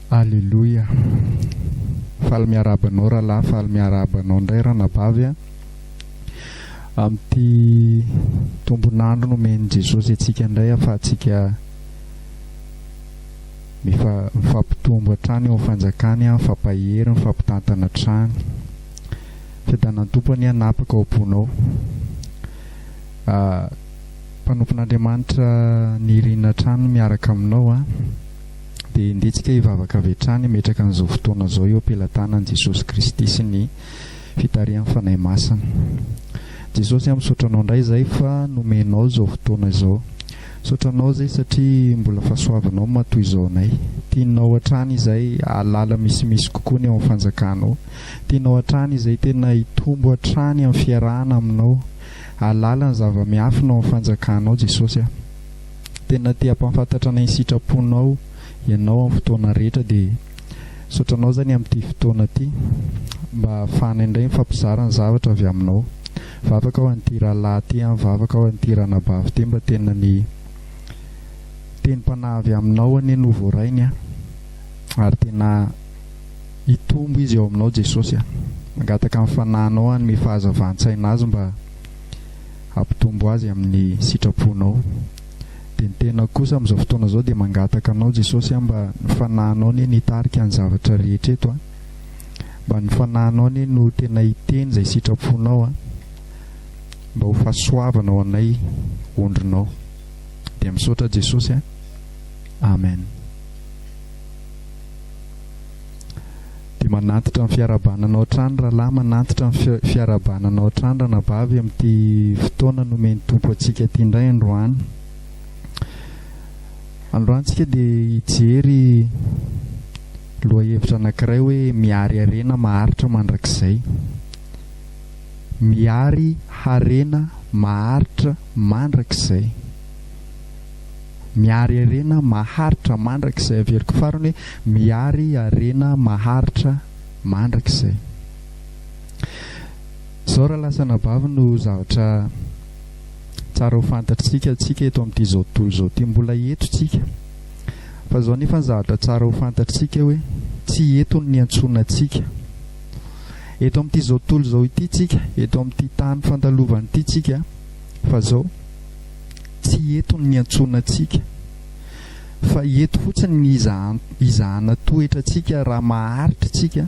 Aleloia! Faly miarahaba anao rahalahy, faly miarahaba anao indray ranabavy a. Amin'ity tombon'andro nomen'i Jesosy antsika indray ahafahantsika mifa- mifampitombo hatrany eo fanjakany, mifampahery, mifampitantana hatrany. Fiadanan'ny Tompo anie hanapaka ao am-ponao. Mpanompon'Andriamanitra nirina hatrany miaraka aminao an! Dia ndeha tsika hivavaka avy hatrany hametraka an'izao fotoana izao eo am-pelatanan'i Jesosy Kristy sy ny fitarihan'ny Fanahy Masina. Jesosy an! Misaotra Anao indray izay fa nomenao izao fotoana izao. Misaotra Anao izay satria mbola fahasoavinao matoa izao anay. Tianao hatrany izay hahalala misimisy kokoa ny ao amin'ny fanjakanao. Tianao hatrany izay tena hitombo hatrany amin'ny fiarahana aminao. Alalan'ny zava-miafina ao amin'ny fanjakanao Jesosy a. Tena te hampahafantatra anay ny sitraponao ianao amin'ny fotoana rehetra dia misaotra anao zany amin'ity fotoana ity mba hahafahanay indray mifampizara ny zavatra avy aminao. Mivavaka aho an'ity rahalahy ity a, mivavaka aho an'ity ranabavy ity mba tena ny tenim-panahy avy aminao anie no voarainy a ary tena Hitombo izy ao aminao Jesosy a. Mangataka ny fanahinao hanome fahazavan-tsaina azy mba hampitombo azy amin'ny sitraponao. Dia ny tenako kosa amin'izao fotoana izao dia mangataka anao Jesosy a mba ny fanahinao anie no hitarika ny zavatra rehetra eto a. Mba ny fanahinao anie no tena hiteny izay sitraponao a. Mba ho fahasoavana ho anay ondrinao. Dia misaotra Jesosy a. Amen. Dia manantitra ny fiarahabana anao hatrany rahalahy, manantitra ny fiarahabana anao hatrany ranabavy amin'ity fotoana nomen'ny Tompo antsika ity indray androany. Androany tsika dia hijery lohahevitra anankiray hoe miary harena maharitra mandrakizay. Miary harena maharitra mandrakizay. Miary harena maharitra mandrakizay Averiko farany hoe miary harena maharitra mandrakizay Izao raha lasa anabavy no zavatra tsara ho fantatr'tsika tsika eto amin'ity izao tontolo izao ity Mbola eto tsika fa izao nefa ny zavatra tsara ho fantatr'tsika hoe tsy eto no niantsoana antsika Eto amin'ity izao tontolo izao ity tsika Eto amin'ity tany fandalovana ity tsika fa izao Tsy eto no niantsoana antsika, fa eto fotsiny ny hizahana toetra antsika raha maharitra isika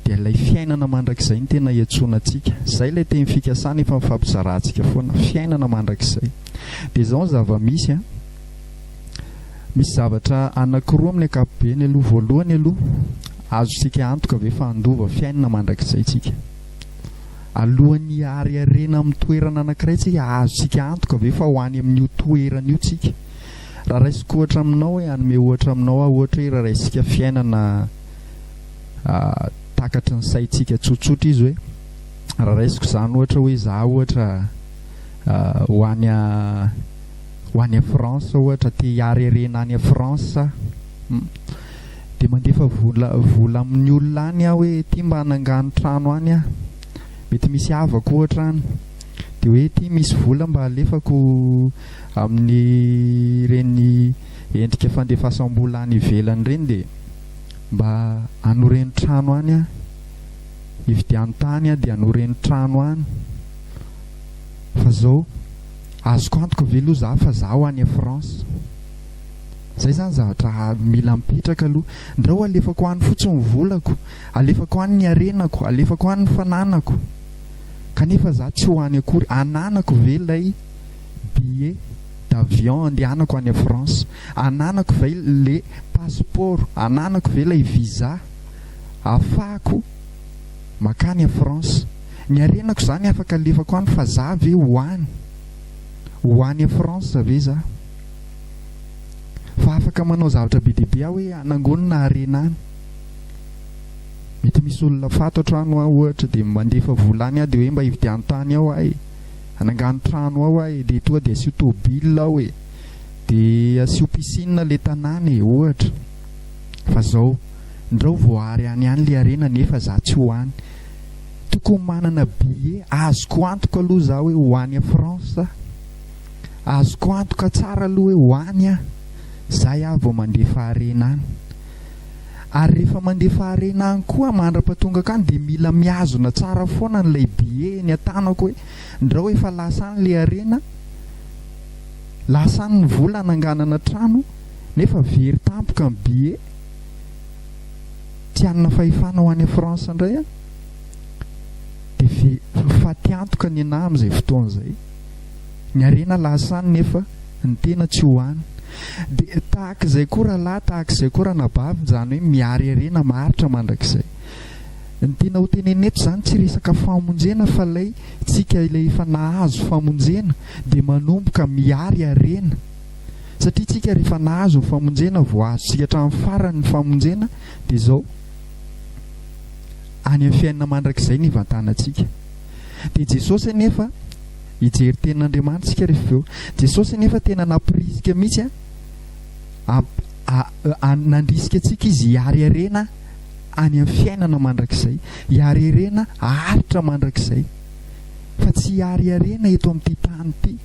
dia ilay fiainana mandrakizay no tena iantsoana antsika. Izay ilay teny fikasana efa nifampizarantsika foana, fiainana mandrakizay. Dia izao ny zava-misy an, misy zavatra anankiroa amin'ny ankapobeny aloha, voalohany aloha azontsika antoka ve fa handova fiainana mandrakizay isika? Alohan'ny hiary harena amin'ny toerana anankiray tsika, azontsika antoka ve fa ho any amin'io toerana io tsika? Raha raisiko ohatra aminao hoe, hanome ohatra aminao aho, ohatra hoe raha raisintsika fiainana takatry ny saintsika tsotsotra izy hoe, raha raisiko izany ohatra hoe za ohatra ho any ho any France ohatra, te hiary harena any France aho, dia mandefa vola vola amin'ny olona any aho hoe ity mba hanangano trano any aho, mety misy havako ohatra any, dia hoe ity misy vola mba alefako amin'ireny endrika fandefasam-bola any ivelany ireny dia mba hanoreno trano any aho, hividiano tany aho dia hanoreno trano any, fa izao azoko antoka ve aloha izaho fa izaho any France? Zay zany zavatra mila mipetraka aloha. Ndrao alefako any fotsiny ny volako, alefako any ny harenako, alefako any ny fananako, kanefa za tsy ho any akory. Ananako ve ilay billet d'avion andehanako any France? Ananako ve le passeport? Ananako ve ilay visa ahafahako makany France? Ny harenako zany afaka alefako any fa za ve ho any? Ho any France ve za? fa afaka manao zavatra be dia be aho hoe hanangonina harena any. Mety misy olona fantatro any ho aho ohatra dia mandefa vola any aho dia hoe mba hividiano tany ao aho e. Hanangano trano ao aho e dia toa dia asio tôbila ao e. Dia asio piscine ilay tanàna e ohatra. Fa zao, ndrao voahary any any ilay harena nefa za tsy ho any. Tokony manana billet azoko antoka aloha za hoe ho any France za. Azoko antoka tsara aloha hoe ho any aho, izay aho vao mandefa harena any. Ary rehefa mandefa harena any koa mandra-patongako any dia mila mihazona tsara foana an'ilay billet eny an-tanako hoe ndrao efa lasa any ilay harena, lasa any ny vola hananganana trano nefa very tampoka ny billet. Tsy hanana fahefana ho any France indray aho dia very, ho faty antoka ny anà amin'izay fotoana izay. Ny harena lasa any nefa ny tena tsy ho any. Dia tahaka izay koa rahalahy, tahaka izay koa ranabavy, izany hoe miary harena maharitra mandrakizay. Ny tiana ho tenenina eto izany tsy resaka famonjena fa ilay tsika ilay efa nahazo famonjena dia manomboka miary harena satria tsika rehefa nahazo ny famonjena vao azo tsika hatramin'ny farany ny famonjena dia izao any amin'ny fiainana mandrakizay ny ivantanantsika. Dia Jesosy anefa, hijery tenin'Andriamanitra isika rehefa avy eo. Jesosy anefa tena namporisika mihitsy an, amp- a- a- nandrisika antsika izy hiariarena any amin'ny fiainana mandrakizay, hiariarena haharitra mandrakizay, fa tsy hiariarena eto amin'ity tany ity.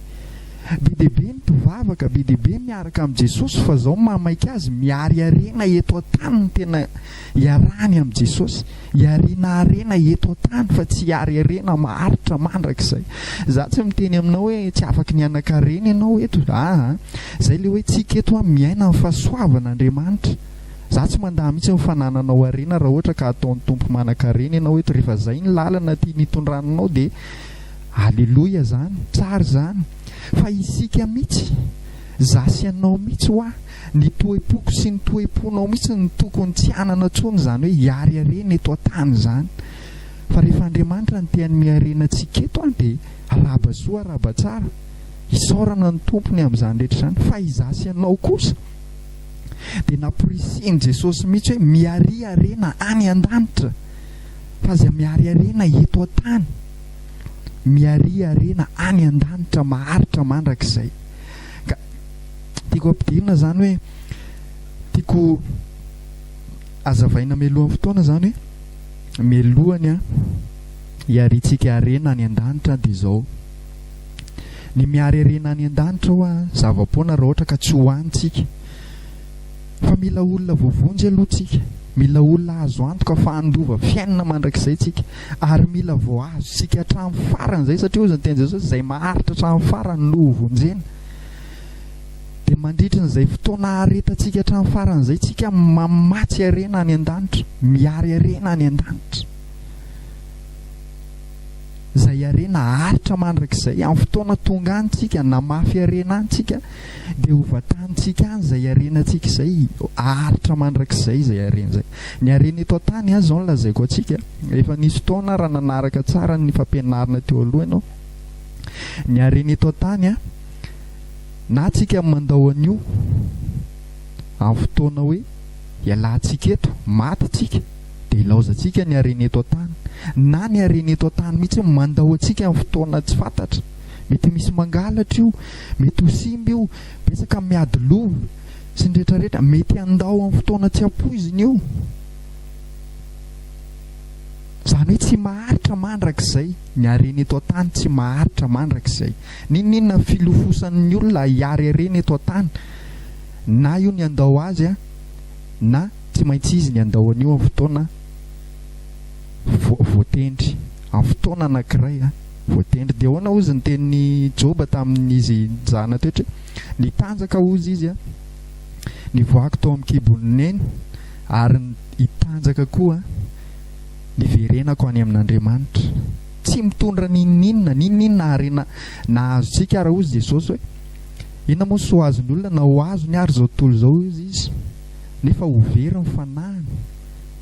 Be dia be ny mpivavaka, be dia be ny miaraka amin'i Jesosy, fa izao mamaika azy miariarena eto an-tany ny tena Iarahany amin'i Jesosy. Iarena harena eto an-tany fa tsy hiary harena maharitra mandrakizay. Izaho tsy miteny aminao hoe tsy afaka ny hanan-karena ianao eto. Aa. Izay ilay hoe tsika eto an, miaina ny fahasoavan' Andriamanitra. Izaho tsy mandà mihitsy ny fanananao harena raha ohatra ka hataon'ny Tompo manan-karena ianao eto. Rehefa izay ny lalana tiany hitondrana anao dia Aleloia izany. Tsara izany. Fa isika mihitsy, izaho sy ianao mihitsy hoa. Ny toe-poko sy ny toe-ponao mihitsy no tokony tsy hanana intsony izany hoe hiareharena eto an-tany izany. Fa rehefa Andriamanitra no te-hanome harena antsika eto dia arahaba soa arahaba tsara. Isaorana ny Tompo ny amin'izany rehetra izany. Fa izaho sy ianao kosa dia namporisihin'i Jesosy mihitsy hoe miaria harena any an-danitra fa aza miareharena eto an-tany. Miaria harena any an-danitra maharitra mandrakizay. Ka tiako ampidirina izany hoe tiako azavaina mialohan'ny fotoana izany hoe mialohan'ny hiarintsika harena any an-danitra dia izao. Ny miary harena any an-danitra hoa zava-poana raha ohatra ka tsy ho any tsika. Fa mila olona voavonjy aloha tsika. Mila olona azo antoka fa handova fiainana mandrakizay tsika. Ary mila voahazo isika hatramin'ny farany izay, satria hozy ny tenin'i Jesosy, izay maharitra hatramin'ny farany no ho vonjena. Dia mandritry n'izay fotoana haretantsika hatramin'ny farany izay, tsika mamatsy harena any an-danitra, miary harena any an-danitra. Izay harena haharitra mandrakizay, amin'ny fotoana tonga any tsika, namafy harena any tsika, dia ho vatanintsika any izay harenantsika izay, haharitra mandrakizay izay harena izay. Ny harena eto an-tany azy izao no lazaiko antsika, efa nisy fotoana raha nanaraka tsara ny fampianarana teo aloha ianao, ny harena eto an-tany a, na tsika mandao an'io amin'ny fotoana hoe ialantsika eto, maty tsika, dia ilaozantsika ny harena eto an-tany, na ny harena eto an-tany mihitsy mandao antsika amin'ny fotoana tsy fantatra. Mety misy mangalatra io, mety ho simba io, betsaka ny miady loha sy ny rehetrarehetra, mety handao amin'ny fotoana tsy ampoizina io. Izany hoe tsy maharitra mandrakizay, ny harena eto an-tany tsy maharitra mandrakizay. N'inon'inona filofosan'ny olona hiary harena eto an-tany, na io ny handao azy, na tsy maintsy izy ny handao an'io amin'ny fotoana voatendry, amin'ny fotoana anankiray. Voatendry dia ahoana hozy ny tenin'i Joba tamin'izy nizahana toetra hoe, Nitanjaka hozy izy an! Nivoahako tao amin'ny kibon'i Neny, ary hitanjaka koa an! Niverenako any amin'Andriamanitra. Tsy mitondra n'inon'inona n'inon'inona harena nahazotsika ary hozy Jesosy hoe, Inona moa ny soa azon'ny olona na ho azony ary izao tontolo izao hozy izy, nefa ho very ny fanahiny.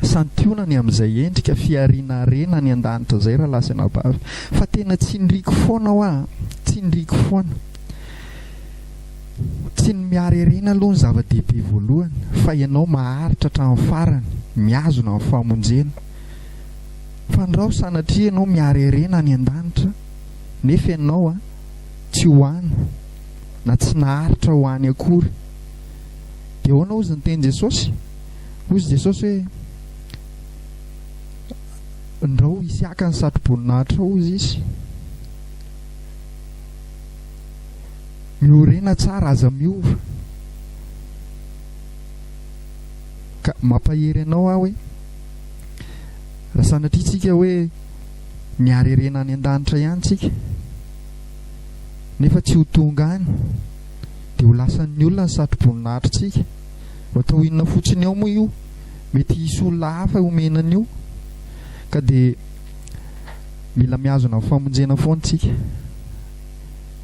Santionany amin'izay endrika fihariana harena any an-danitra izay rahalahy sy anabavy. Fa tena tsindriako foana hoa a! Tsindriako foana. Tsy ny mihary harena aloha no zava-dehibe voalohany, fa ianao maharitra hatramin'ny farany, mihazona ny famonjena. Fandrao sanatria ianao mihary harena any an-danitra, nefa ianao a, tsy ho any, na tsy naharitra ho any akory. Dia ahoana hozy ny tenin'i Jesosy? Hoy izy Jesosy hoe, Ndrao hisy haka ny satroboninahitra hozy izy. Miorena tsara, aza miova. Ka mampahery anao aho hoe raha sanatria tsika hoe miarerena any an-danitra ihany tsika nefa tsy ho tonga any dia ho lasan'ny olona ny satroboninahitra tsika. Ho atao inona fotsiny ao moa io? Mety hisy olona hafa homena an'io. Ka dia mila mihazona ny famonjena foana isika.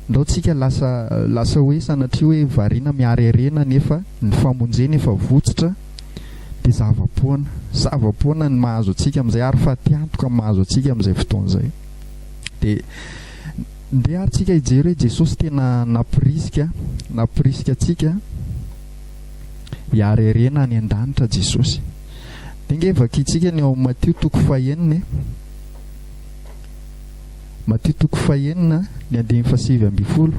Ndao tsika lasa lasa hoe sanatria hoe variana miarearena nefa ny famonjena efa votsotra dia zava-poana. Zava-poana ny mahazo antsika amin'izay ary fatiantoka ny mahazo antsika amin'izay fotoana izay. Dia. Ndeha ary tsika hijery hoe Jesosy tena nampirisika nampirisika antsika hiara irena any an-danitra Jesosy. Dia nge vakintsika ny ao amin'ny Matio toko fahenina e. Matio toko fahenina ny andininy fahasivy ambin'ny folo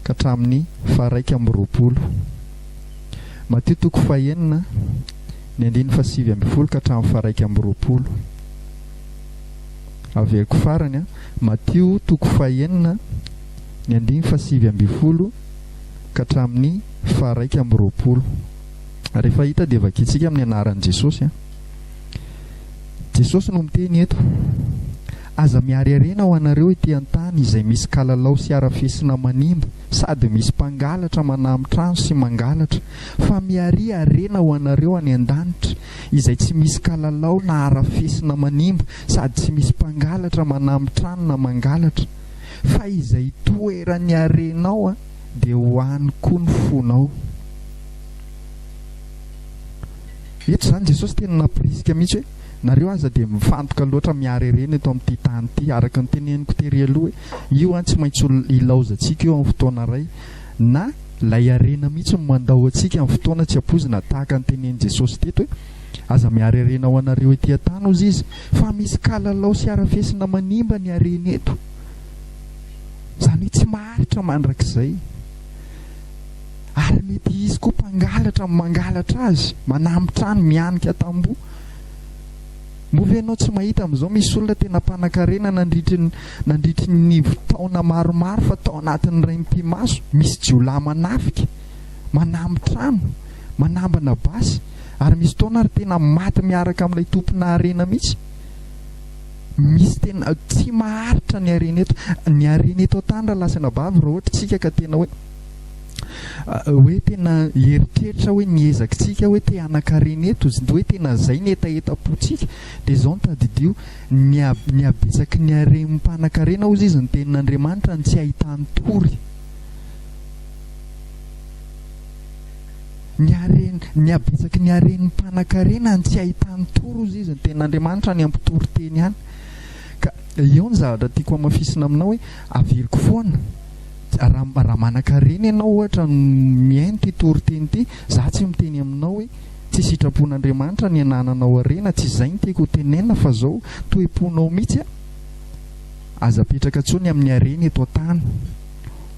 ka hatramin'ny faharaika amby roapolo. Matio toko fahenina ny andininy fahasivy ambin'ny folo ka hatramin'ny faharaika amby roapolo. Averiko farany an, Matio toko fahenina ny andiny fahasivy ambin'ny folo ka hatramin'ny faharaika amby roapolo. Rehefa hita dia vakintsika amin'ny anaran'i Jesosy an. Jesosy no miteny eto, Aza miariariana ho anareo ety an-tany izay misy kalalao sy harafesina manimba sady misy mpangalatra manamitrano sy mangalatra, fa miariariana ho anareo any an-danitra izay tsy misy kalalao na harafesina manimba sady tsy misy mpangalatra manamy trano na mangalatra fa izay toeran'ny harenao dia ho any koa ny fonao eto izany Jesosy tena nampirisika mihitsy hoe nareo aza dia mifantoka loatra miharerena eto amin'ity tany ity araka ny teneniko tery aloha hoe io an tsy maintsy ilaozantsika io amin'ny fotoana iray na ilay harena mihitsy no mandao antsika amin'ny fotoana tsy ampoizina tahaka ny tenenin'i Jesosy teto hoe, Aza miary harena ho anareo ety an-tany, hozy Izy, fa misy kalalao sy harafesina manimba ny harena eto. Izany hoe tsy maharitra mandrakizay. Ary mety hisy koa mpangalatra mangalatra azy, manamitrany, mihanika tamboho. Moa ve ianao tsy mahita amin'izao misy olona tena mpanankarena nandritry ny nandritry ny taona maromaro fa tao anatin'iray mipi-maso misy jiolahy manafika, manamby trano, manambana basy ary misy fotoana ary tena maty miaraka amin'ilay tompona harena mihitsy? Misy tena tsy maharitra ny harena eto. Ny harena eto an-tany raha lasa anabavy raha ohatra isika ka tena hoe. hoe tena hieritreritra hoe ny ezakitsika hoe te hanan-karena eto, hoe tena izay ny hetahetam-pontsika, dia izao no tadidio, ny habetsaky ny harem mpanan-karena hozy izy ny tenin'Andriamanitra no tsy ahitany tory. Ny haren, ny habetsaky ny haren'ny mpanan-karena no tsy ahitany tory hozy izy ny tenin'Andriamanitra any ampitory teny any. Ka eo ny zavatra tiako hamafisina aminao hoe averiko foana. Raha raha manankarena ianao ohatra no mihaino ity toriteny ity, za tsy miteny aminao hoe tsy sitrapon'Andriamanitra ny anananao harena, tsy izay ny tiako ho tenenina fa zao, toe-ponao mihitsy a, aza apetraka tsony amin'ny harena eto an-tany.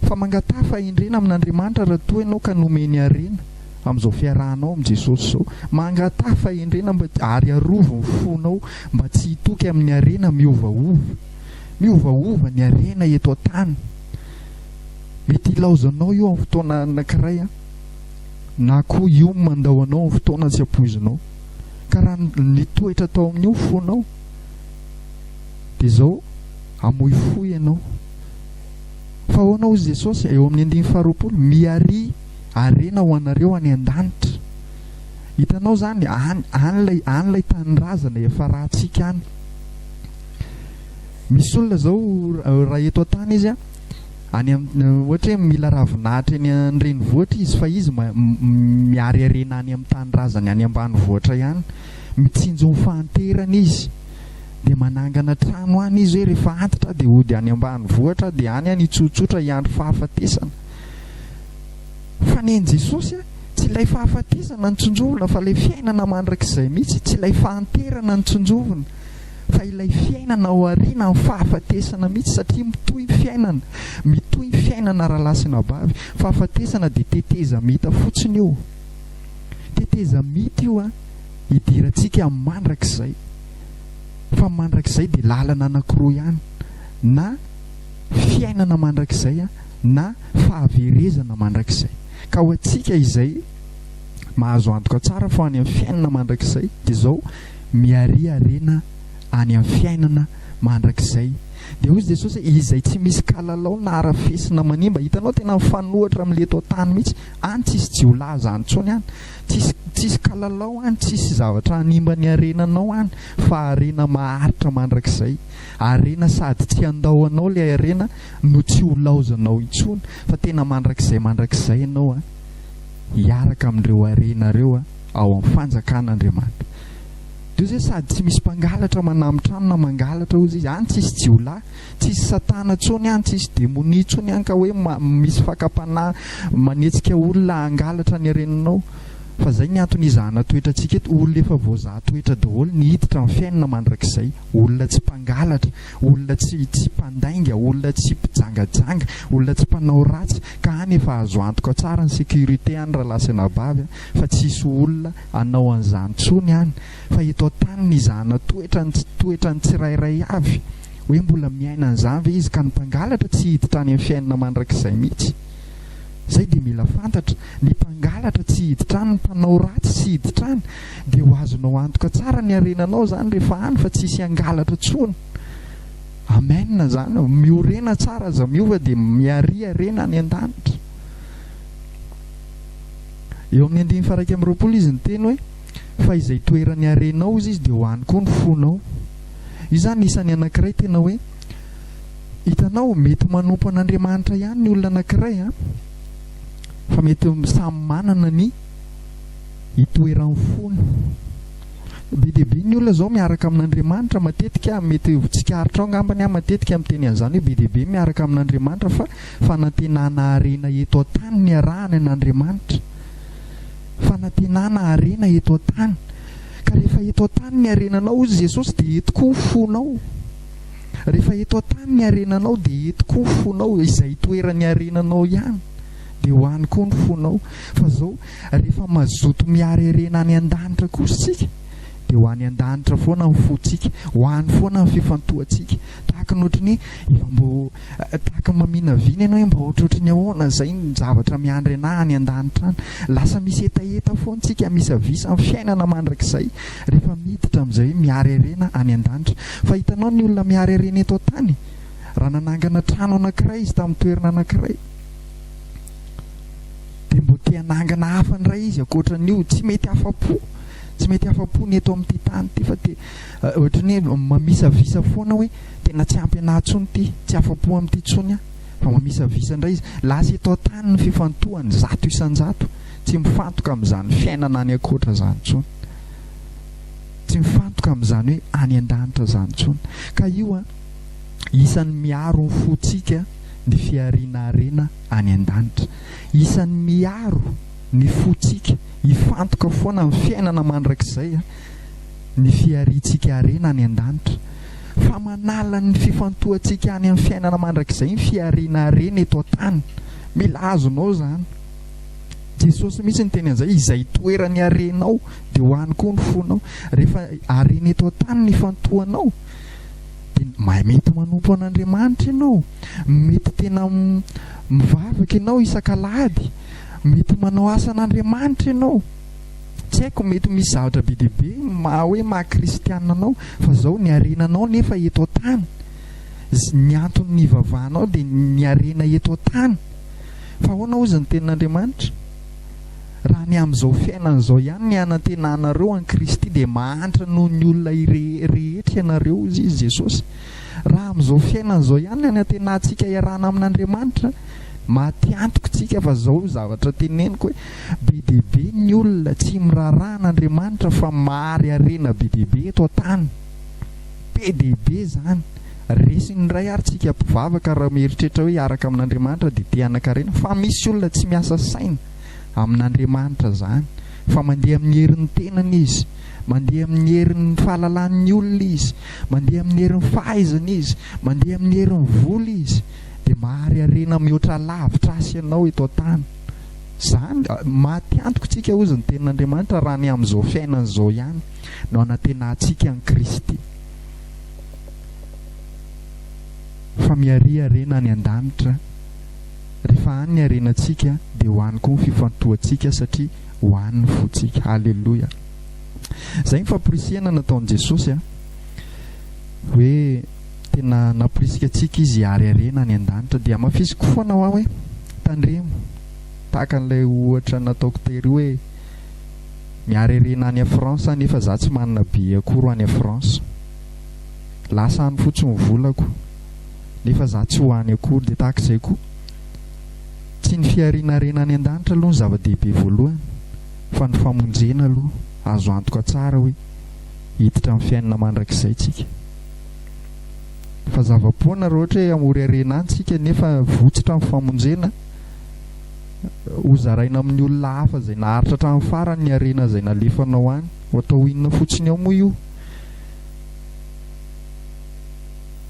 Fa mangataha fahendrena amin'Andriamanitra raha toa ianao ka nomeny harena amin'izao fiarahanao amin'i Jesosy izao. Mangataha fahendrena mba ary arovy ny fonao mba tsy hitoky amin'ny harena miovaova. Miovaova ny harena eto an-tany. Mety hilaozanao io amin'ny fotoana anankiray an, na koa io mandao anao amin'ny fotoana tsy ampoizinao. Ka raha nitoetra tao amin'io fonao, dia izao hamoifoy ianao. Fa ahoana hoy Jesosy eo amin'ny andininy faharoapolo, miaria harena ho anareo any an-danitra. Hitanao izany, any, any ilay, any ilay tanindrazana efa ratsika any. Misy olona izao raha eto an-tany izy any ohatra hoe mila ravinahitra eny an-drenivohitra izy fa izy miariariana any amin'ny tanindrazany any ambanivohitra ihany mitsinjo ny fahanterana izy dia manangana trano any izy hoe rehefa antitra dia hody any ambanivohitra dia any any hitsotsotra hiandry fahafatesana fa ny an'i Jesosy tsy ilay fahafatesana no tsinjovina fa ilay fiainana mandrakizay mihitsy tsy ilay fahanterana no tsinjovina fa ilay fiainana ao aoriana ny fahafatesana mihitsy satria mitohy ny fiainana, mitohy ny fiainana rahalahy sy anabavy, fahafatesana dia tetezamita fotsiny io, tetezamita io an, hidirantsika amin'ny mandrakizay, fa ny mandrakizay dia lalana anankiroa ihany, na fiainana mandrakizay an, na fahaverezana mandrakizay, ka ho antsika izay mahazo antoka tsara fa any amin'ny fiainana mandrakizay dia izao, miarearena any amin'ny fiainana mandrakizay. Dia hoy Jesosy hoe izay tsy misy kalalao na arafesina manimba, hitanao tena mifanohitra amin'ilay eto an-tany mihitsy, any tsisy jiolahy izany intsony any, tsisy tsisy kalalao any, tsisy zavatra hanimba ny harenanao any fa harena maharitra mandrakizay. Harena sady tsy handao anao ilay harena no tsy holaozanao intsony fa tena mandrakizay mandrakizay ianao hiaraka amin'ireo harena ireo. ao amin'ny fanjakan'Andriamanitra. Dia hozy hoe sady tsy misy mpangalatra manamitrano na mangalatra hozy izy, any tsisy jiolahy, tsisy satana tsony any, tsisy demonia tsony any ka hoe misy fakam-panahy manetsika olona hangalatra ny reninao. Fa zay ny antony izahana toetra antsika eto, olona efa voazaha toetra daholo ny hiditra amin'ny fiainana mandrakizay, olona tsy mpangalatra, olona tsy tsy mpandainga, olona tsy mpijangajanga, olona tsy mpanao ratsy, ka any efa azo antoka tsara ny sécurité any ralahy sy anabavy an. fa tsy hisy olona hanao an'izany intsony any fa eto an-tany nizahana toetra ny tsy toetra ny tsirairay avy hoe mbola miaina an'izany ve izy ka ny mpangalatra tsy hiditra any amin'ny fiainana mandrakizay mihitsy zay dia mila fantatra ny mpangalatra tsy hiditra any ny mpanao ratsy tsy hiditra any dia ho azonao antoka tsara ny harenanao zany rehefa any fa tsy hisy hangalatra tsony Amen zany aho. Miorena tsara aza miova dia miaria rena any an-danitra. Eo amin'ny andininy faharaika amby roapolo izy niteny hoe, Fa izay toeran'ny harenao hozy izy dia ho any koa ny fonao. Io izany isan'ny anankiray tena hoe, hitanao, mety ho manompo an'Andriamanitra ihany ny olona anankiray an, fa mety samy manana ny itoeran'ny fony. Be dia be ny olona izao miaraka amin'Andriamanitra matetika, mety ho tsikaritra ao angambany aho matetika miteny an'izany hoe be dia be ny miaraka amin'Andriamanitra fa Fanantenana harena eto an-tany niarahany an'Andriamanitra. Fanantenana harena eto an-tany. Ka rehefa eto an-tany ny harenanao, hoy Jesosy, dia eto koa ny fonao. Rehefa eto an-tany ny harenanao, dia eto koa ny fonao. Izay itoeran'ny harenanao ihany, dia ho any koa ny fonao. Fa izao, rehefa mazoto mihary harena any an-danitra kosa isika, dia ho any an-danitra foana ny fontsika, ho any foana ny fifantohantsika. Tahaka ny ohatry ny hoe efa mbo Tahaka ny maminavina ianao hoe mba ohatrohatry ny ahoana izay ny zavatra miandry anà any an-danitra any. Lasa misy hetaheta foana isika, misavisa ny fiainana mandrakizay rehefa miditra amin'izay hoe miharerena any an-danitra. Fa hitanao ny olona miharerena eto an-tany, raha nanangana trano anankiray izy tamin'ny toerana anankiray, dia mbo te hanangana hafa indray izy ankoatran'io, tsy mety afa-po, tsy mety afa-po ny eto amin'ity tany ity fa te, ohatry ny hoe mamisavisa foana hoe. Tena tsy ampy anah tsony ity, tsy afapo amin'ity tsony ah. Vao mamisavisa indray izy, lasa eto an-tany ny fifantohany zato isan-jato. Tsy mifantoka amin'izany fiainana any ankoatra izany tsony. Tsy mifantoka amin'izany hoe any an-danitra izany tsony. Ka io an, isan'ny miaro ny fontsika ny fihariana harena any an-danitra. Isan'ny miaro ny fontsika hifantoka foana amin'ny fiainana mandrakizay an. ny fihariantsika harena any an-danitra, fa manala ny fifantohantsika any amin'ny fiainana mandrakizay ny fihariana harena eto an-tany. Mila azonao izany. Jesosy mihitsy niteny an'izay, izay toeran'ny harenao dia ho any koa ny fonao. Rehefa harena eto an-tany ny ifantohanao, dia mety manompo an'Andriamanitra ianao, mety tena mivavaka ianao isak'alahady, mety manao asan'Andriamanitra ianao. Tsy haiko mety misy zavatra be dia be maha hoe maha kristianina anao fa zao ny harena anao nefa eto an-tany ny anton'ny hivavahanao dia ny harena eto an-tany fa ahoana ozy ny tenin'Andriamanitra raha ny amin'izao fiainana izao ihany ny hanantenanareo an'i Kristy dia mahantra noho ny olona rehetra ianareo ozy izy Jesosy raha amin'izao fiainana izao ihany ny hanantenantsika iarahana amin'Andriamanitra matiantoko tsika fa zao zavatra teneniko hoe Be dia be ny olona tsy miraharaha an'Andriamanitra fa mahary harena be dia be eto an-tany. Be dia be izany. Resiny indray ary tsika mpivavaka raha mieritreritra hoe hiaraka amin'Andriamanitra dia te hanan-karena fa misy olona tsy miasa saina amin'Andriamanitra izany fa mandeha amin'ny herin'ny tenany izy, mandeha amin'ny herin'ny fahalalan'ny olona izy, mandeha amin'ny herin'ny fahaizana izy, mandeha amin'ny herin'ny vola izy dia mahary harena mihoatra lavitra asa ianao eto an-tany. Izany, maty antoko tsika hozy ny tenin'Andriamanitra raha ny amin'izao fiainana izao ihany no anantenantsika an'i Kristy. Fa miaria harena any an-danitra. Rehefa any ny harenantsika dia ho any koa ny fifantohantsika satria ho any ny fontsika. Haleloia. Izay ny famporisihana nataon'i Jesosy a. Hoe Tena namporisika antsika izy hiariariana any an-danitra. Dia hamafisiko foana hoa hoe, Tandremo, tahaka an'ilay ohatra nataoko tery hoe, Miariariana any France aho nefa za tsy manana billet akory ho any France. Lasa any fotsiny ny volako, nefa za tsy ho any akory. Dia tahaka izay koa, tsy ny fihariana harena any an-danitra aloha no zava-dehibe voalohany, fa ny famonjena aloha. Azo antoka tsara hoe hiditra amin'ny fiainana mandrakizay tsika. Fa zava-poana raha ohatra hoe hamory harena any isika nefa votsitra ny famonjena, ho zaraina amin'ny olona hafa izay naharitra hatramin'ny farany ny harena izay nalefanao any. Ho atao inona fotsiny ao moa io?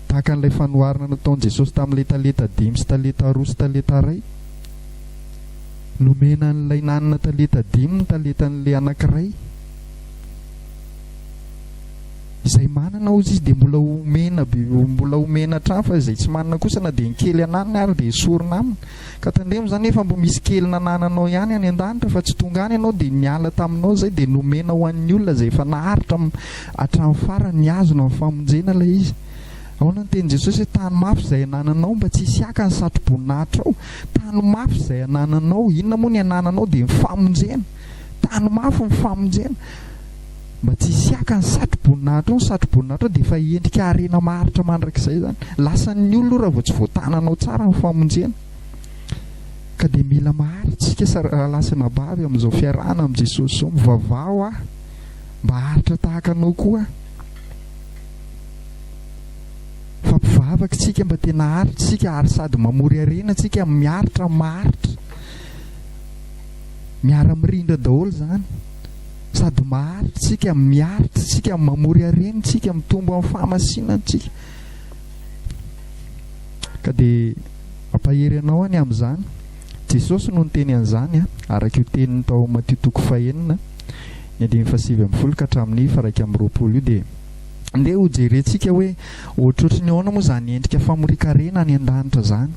Tahaka an'ilay fanoharana nataon'i Jesosy tamin'ilay talenta dimy sy talenta roa sy talenta iray, nomena an'ilay nanana talenta dimy ny talentan'ilay anankiray. izay manana hozy izy dia mbola omena be mbola omena hatrany fa izay tsy manana kosa na dia ny kely ananany ary dia esorina aminy ka tandremo izany efa mbo misy kely nanananao ihany any an-danitra fa tsy tonga any ianao dia niala taminao izay dia nomena ho an'ny olona izay efa naharitra hatramin'ny farany ny azona amin'ny famonjena ilay izy ahoana ny teny Jesosy hoe tany mafy izay anananao mba tsy hisy haka ny satroboninahitra ao tany mafy izay anananao inona moa ny anananao dia ny famonjena tany mafy ny famonjena Mba tsy hisy haka ny satroboninahitra ao, ny satroboninahitra ao dia efa endrika harena maharitra mandrakizay izany. Lasan'ny olona io raha vao tsy voatananao tsara ny famonjena. Ka dia mila maharitra isika sa- rahalahy sy anabavy amin'izao fiarahana amin'i Jesosy izao. Mivavaha ho ahy mba haharitra tahaka anao koa aho. Fa mpivavaka isika mba tena haharitra isika ary sady mamory harena isika, miaritra, maharitra. Miara-mirindra daholo izany. sady maharitra isika, miaritra isika, mamory harena isika, mitombo amin'ny fahamasinana isika. Ka dia ampahery anao any amin'izany. Jesosy no niteny an'izany, araka io teniny tao amin'ny Matio toko fahenina, ny andininy fahasivy ambin'ny folo ka hatramin'ny faraika amin'ny roapolo io dia Ndeha ho jerentsika hoe ohatrohatry ny ahoana moa izany endrika famorian-karena any an-danitra izany.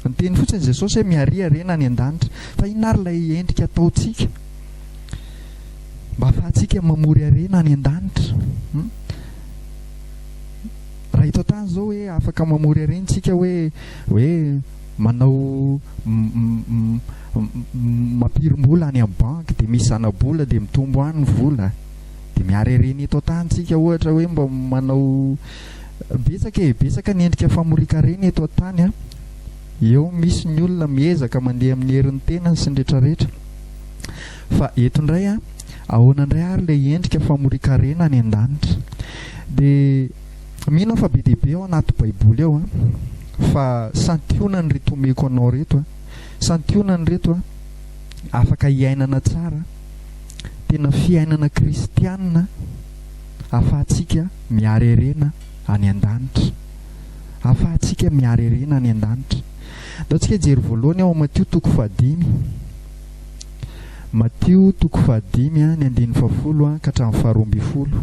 Niteny fotsiny Jesosy hoe miaria harena any an-danitra. Fa inona ary ilay endrika ataontsika? Mba afahantsika mamory harena any an-danitra. Hmm? Raha eto an-tany izao hoe afaka mamory harena tsika hoe hoe manao mampirim-bola any amin'ny banky dia misy zana-bola dia mitombo any ny vola dia miary harena eto an-tany tsika ohatra hoe mba manao betsaka e betsaka ny endrika famorian-karena eto an-tany a Eo misy ny olona miezaka mandeha amin'ny herin'ny tenany sy ny retraretra. Fa eto indray an, ahoana indray ary ilay endrika famorian-karena any an-danitra? Dia mino aho fa be dia be ao anaty Baiboly ao an, fa santionany ireto omeko anao ireto an, santionany ireto an, afaka hiainana tsara, tena fiainana kristiana ahafahantsika miharerena any an-danitra. hahafahantsika miharerena any an-danitra. Ataontsika hijery voalohany ao Matio toko fahadimy. Matio toko fahadimy, ny andininy fahafolo ka hatramin'ny faharoa ambin'ny folo.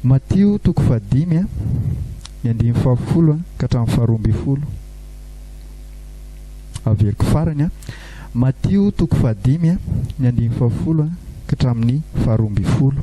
Matio toko fahadimy, ny andininy fahafolo ka hatramin'ny faharoa ambin'ny folo. Averiko farany. Matio toko fahadimy, ny andininy fahafolo ka hatramin'ny faharoa ambin'ny folo.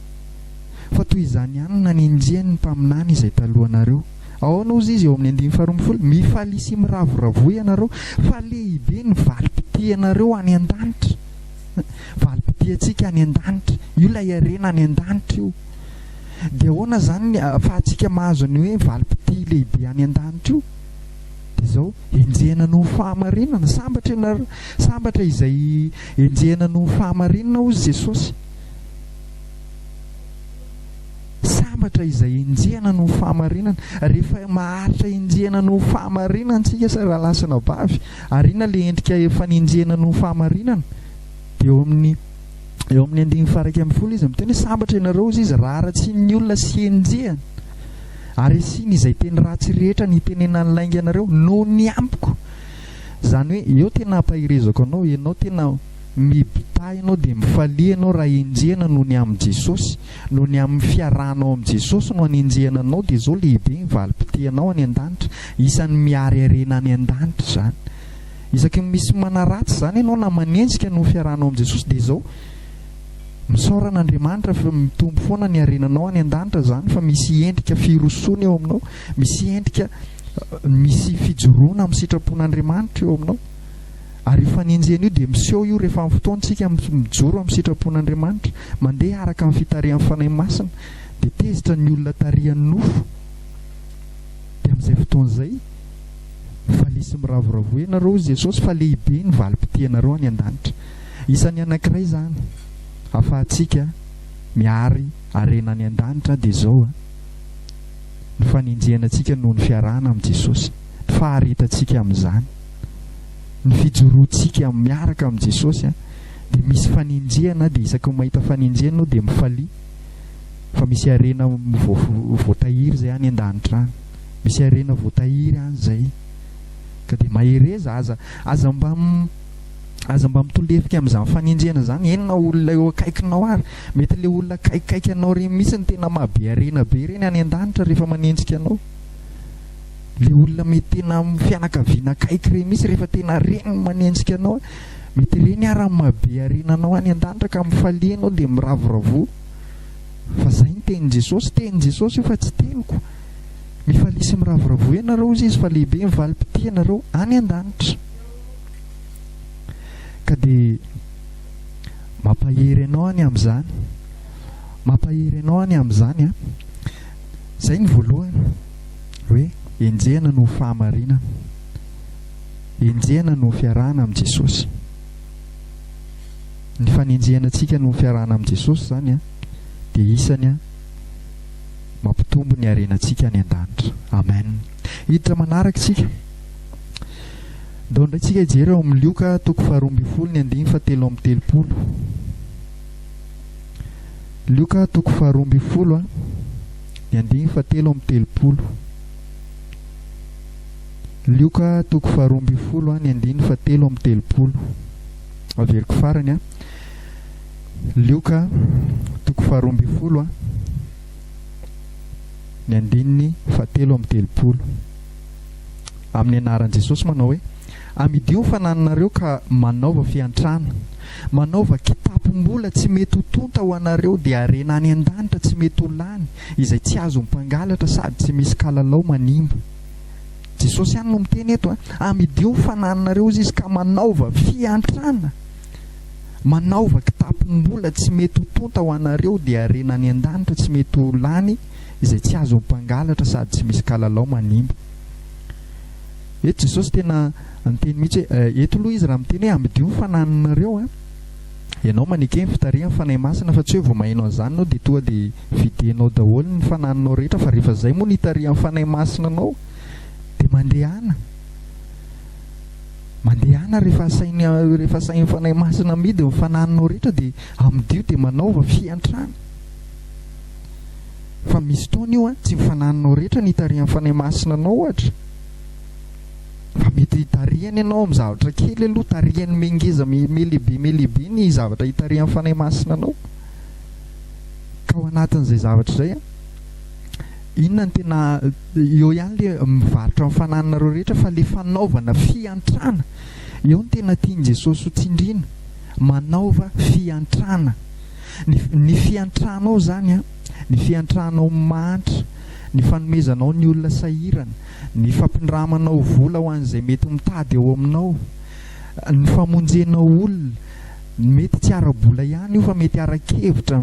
Fa toy izany ihany no nanenjehan'ny mpaminany izay talohanareo. Aona hozy izy eo amin'ny andininy faharoa ambin'ny folo, Mifalia sy miravoravoa ianareo, fa lehibe ny valim-pitianareo any an-danitra. Valim-pitiantsika any an-danitra. Io ilay harena any an-danitra io. Dia ahoana izany ny ahafahantsika mahazo ny hoe valim-pitia lehibe any an-danitra io? Dia izao, enjehina noho ny fahamarinana. Sambatra ianareo, sambatra izay enjehina noho ny fahamarinana hozy Jesosy. Sambatra izay enjehina noho fahamarinana. Rehefa maharitra enjehina noho fahamarinana antsika sa rahalahy sy anabavy, ary inona ilay endrika efa nenjehina noho fahamarinana? Dia eo amin'ny eo amin'ny andininy faha-iraika ambin'ny folo izy miteny hoe sambatra ianareo, hoy izy, raha haratsian'ny olona sy enjehina, ary asiany izay teny ratsy rehetra nitenenan'ny lainganareo noho ny amiko. Izany hoe, eo tena hampaherezako anao, ianao tena Mibitahy anao dia mifalia ianao raha enjehina noho ny amin'i Jesosy. Noho ny amin'ny fiarahanao amin'i Jesosy no anenjehana anao dia izao lehibe ny valim-potehanao any an-danitra. Isan'ny miary harena any an-danitra izany. Isaky ny misy manaratsy izany ianao na manenjika noho ny fiarahanao amin'i Jesosy dia izao, misaora an'Andriamanitra fa mitombo foana ny harenanao any an-danitra izany fa misy endrika firosoana eo aminao, misy endrika misy fijoroana amin'ny sitrapon'Andriamanitra eo aminao. Ary io fanenjehana io dia miseho io rehefa amin'ny fotoantsika mijoro amin'ny sitrapon'Andriamanitra, mandeha araka amin'ny fitarihan'ny Fanahy Masina, dia tezitra ny olona tarihan'ny nofo. Dia amin'izay fotoana izay, valizy miravoravoa ianareo, hoy Jesosy, fa lehibe ny valim-pitianareo any an-danitra. Isan'ny anankiray izany ahafahantsika mihary harena any an-danitra dia izao, ny fanenjehana antsika noho ny fiarahana amin'i Jesosy, ny faharetantsika amin'izany. ny fijoroantsika miaraka amin'i Jesosy dia misy fanenjehana dia isaky ny mahita fanenjehana aho dia mifalia fa misy harena voatahiry izay any an-danitra any misy harena voatahiry any izay ka dia mahereza aza aza mba aza mba mitolefika amin'izany fanenjehana izany eny na olona eo akaikinao ary mety le olona kaikaiky anao ireny mihitsy ny tena mahabe harena be ireny any an-danitra rehefa manenjika anao le olona mety tena amin'ny fianakaviana akaiky ireny mihitsy rehefa tena reny no manenjika anao mety ireny ary mahabe harena anao any an-danitra ka mifalia ianao dia miravoravoa fa zay ny tenin'i Jesosy tenin'i Jesosy io fa tsy teniko mifalia sy miravoravoa ianareo hozy izy fa lehibe ny valim-pitia anareo any an-danitra ka dia mampahery anao any amin'izany mampahery anao any amin'izany a zay ny voalohany hoe enjehina noho fahamarinana, enjehina noho fiarahana amin'i Jesosy. Ny fanenjehana antsika noho fiarahana amin'i Jesosy izany a, dia isany a, mampitombo ny harenantsika any an-danitra. Amen. Hiditra manaraka isika. Ndao indray tsika hijery ao amin'ny Lioka toko faharoa ambin'ny folo ny andiny fa telo amin'ny telopolo. Lioka toko faharoa ambin'ny folo a. Ny andininy fahatelo amby telopolo. Lioka toko faharoa ambin'ny folo, ny andininy fahatelo amby telopolo. Averiko farany an. Lioka toko faharoa ambin'ny folo, ny andininy fahatelo amby telopolo. Amin'ny anaran'i Jesosy manao hoe. Amidio ny fanananareo ka manaova fiantrana, manaova kitapom-bola tsy mety ho tonta ho anareo, dia harena any an-danitra tsy mety ho lany, izay tsy azon'ny mpangalatra sady tsy misy kalalao manimba. Jesosy ihany no miteny eto a! Amidio ny fanananareo, hozy Izy, ka manaova fiantrana, manaova kitapom-bola tsy mety ho tonta ho anareo, dia harena any an-danitra tsy mety ho lany, izay tsy azon'ny mpangalatra sady tsy misy kalalao manimba. Eto Jesosy tena niteny mihitsy hoe, eto aloha Izy raha miteny hoe amidio ny fanahinareo an, ianao maneke ny fitarihan'ny Fanahy Masina fa tsy hoe vao maheno an'izany ianao dia tonga dia vidianao daholo ny fanahinao rehetra fa rehefa izay moa no itarihan'ny Fanahy Masina anao dia mandehana mandehana rehefa asainy rehefa asain'ny Fanahy Masina midy ny fanahinao rehetra dia amidio dia manaova fiantrana fa misy fotoana io an, tsy ny fanahinao rehetra no itarihan'ny Fanahy Masina anao ohatra Fa mety hitarihany ianao amin'ny zavatra kely aloha, tarihany mengeza melehibe melehibe ny zavatra hitarihan'ny Fanahy Masina anao. Ka ao anatin'izay zavatra izay, inona ny tena eo ihany le mivarotra ny fanananareo rehetra fa le fanaovana fiantrana. Eo ny tena tian'i Jesosy ho tsindrina, manaova fiantrana. Ny, ny fiantranao zany, ny fiantranao mahantra, ny fanomezanao ny olona sahirana, ny fampindramanao vola ho an'izay mety mitady eo aminao, ny famonjenao olona, mety tsy ara-bola ihany io fa mety ara-kevitra,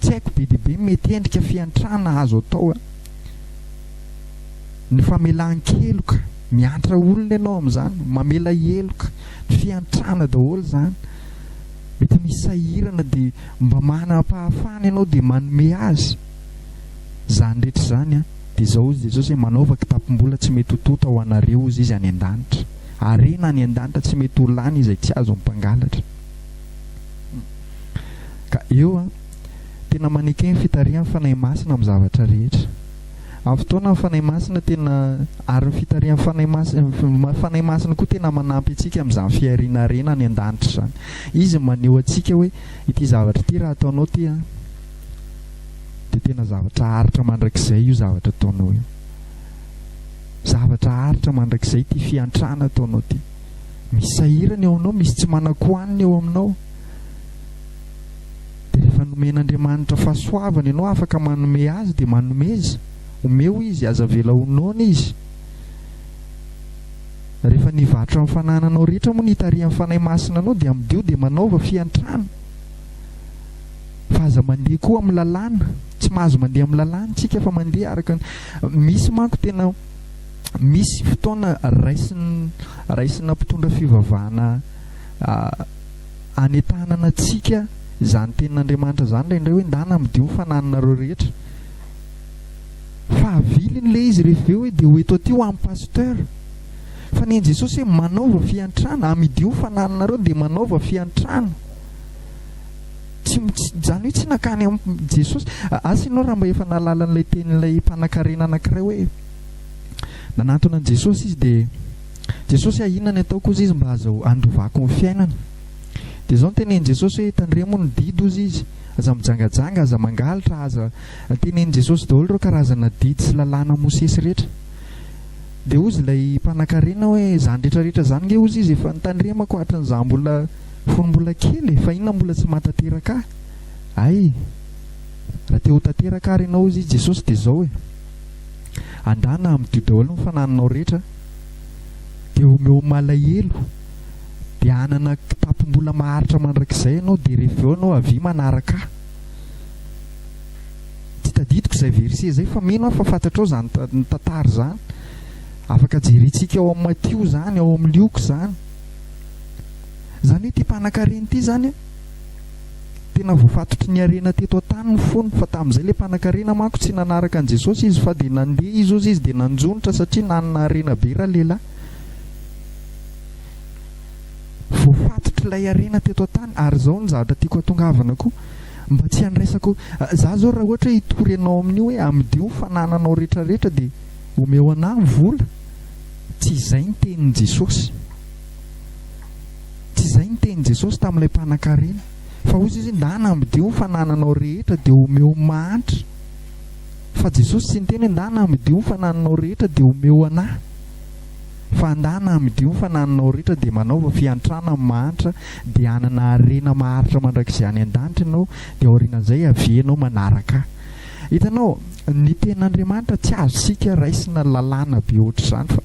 tsy haiko be dia be ny mety endrika fiantrana azo atao a. Ny famelan-keloka, miantra olona ianao amin'izany, mamela heloka, fiantrana daholo izany. Mety misy sahirana dia mba manam-pahafana ianao dia manome azy. Izany rehetra izany an, dia izao hoy Jesosy hoe, Manaova kitapom-bola tsy mety ho tonta ho anareo, hozy Izy, any an-danitra. Harena any an-danitra tsy mety ho lany izay tsy azon'ny mpangalatra. Ka eo an, tena maneke ny fitarihan'ny Fanahy Masina amin'ny zavatra rehetra. Amin'ny fotoana ny Fanahy Masina tena, ary ny fitarihan'ny Fanahy Masina, Fanahy Masina koa tena manampy antsika amin'izany fihariana harena any an-danitra izany. Izy maneho antsika hoe, ity zavatra ity raha ataonao ity an, dia tena zavatra aritra mandrakizay io zavatra ataonao io zavatra aritra mandrakizay ity fiantrana ataonao ity misy sahirana eo aminao misy tsy manakohanina eo aminao dia rehefa nomen'andriamanitra fahasoavana ianao afaka manome azy dia manomeza omeo izy aza vela honona izy rehefa nivarotra amin'ny fanananao rehetra moa ny hitarihan'ny fanahy masina anao dia amidio dia manaova fiantrana Fa aza mandeha koa amin'ny lalàna, tsy mahazo mandeha amin'ny lalàna tsika fa mandeha araka ny, misy manko tena, misy fotoana raisin, raisina mpitondra fivavahana hanentanana antsika izany tenin'Andriamanitra izany ilay indray hoe ndana amidio ny fanananareo rehetra, fa aviliny ilay izy rehefa avy eo hoe dia ho eto aty ho an'ny pasteur, fa nen'i Jesosy hoe manaova fiantrana, amidio ny fanananareo dia manaova fiantrana. Tsy, izany hoe tsy nankany amin'i Jesosy. Asa ianao raha mba efa nahalala an'ilay tenin'ilay mpanankarena anankiray hoe nanantona an'i Jesosy izy dia, Jesosy a, inona ny ataoko hozy izy mba aza handovako ny fiainany? Dia izao no tenenin'i Jesosy hoe, tandremo ny didy hozy izy, aza mijangajanga, aza mangalatra, aza. Tenenin'i Jesosy daholo ireo karazana didy sy lalàna Mosesy rehetra. Dia hozy ilay mpanankarena hoe, izany rehetrarehetra izany nge hozy izy efa notandremako hatrin'izaho mbola. Fony mbola kely e, fa inona mbola tsy maha tanteraka ahy? Hay! Raha te ho tanteraka ary ianao, hoy i Jesosy, dia izao e, Andana amin'Dio daholo ny fanahinao rehetra, dia omeo malahelo, dia hanana kitapom-bola maharitra mandrakizay ianao, dia rehefa avy eo ianao avia manaraka ahy. Tsy tadidiko izay verset izay, fa mino aho fa fantatrao izany tantara izany. Afaka jerentsika ao amin'ny Matio izany, ao amin'ny Lioka izany. Izany hoe ity mpanankarena ity izany an, tena voafatotry ny harena teto an-tany ny fony, fa tamin'izay ilay mpanankarena manko tsy nanaraka an'i Jesosy izy, fa dia nandeha izy hozy izy dia nanjonitra satria nanana harena be ralehilahy. Voafatotry ilay harena teto an-tany, ary izao ny zavatra tiako hatongavana koa, mba tsy handraisako, za zao raha ohatra hoe hitory anao amin'io hoe amidio ny fanananao rehetra rehetra dia omeo anah ny vola, Tsy izay ny tenin'i Jesosy. Tsy izay ny tenin'i Jesosy tamin'ilay mpanankarena. Fa hoy Izy, Ndana amidio ny fanananao rehetra dia omeo ny mahantra. Fa Jesosy tsy niteny hoe, Ndana amidio ny fanananao rehetra dia omeo an'ahy. Fa, Ndana amidio ny fanananao rehetra dia manaova fiantrana amin'ny mahantra, dia hanana harena maharitra mandrakizay any an-danitra ianao, dia aorianan'izay, avienao manaraka ahy. Hitanao, ny Tenin'Andriamanitra tsy azontsika raisina lalàna be hoatr'izany fa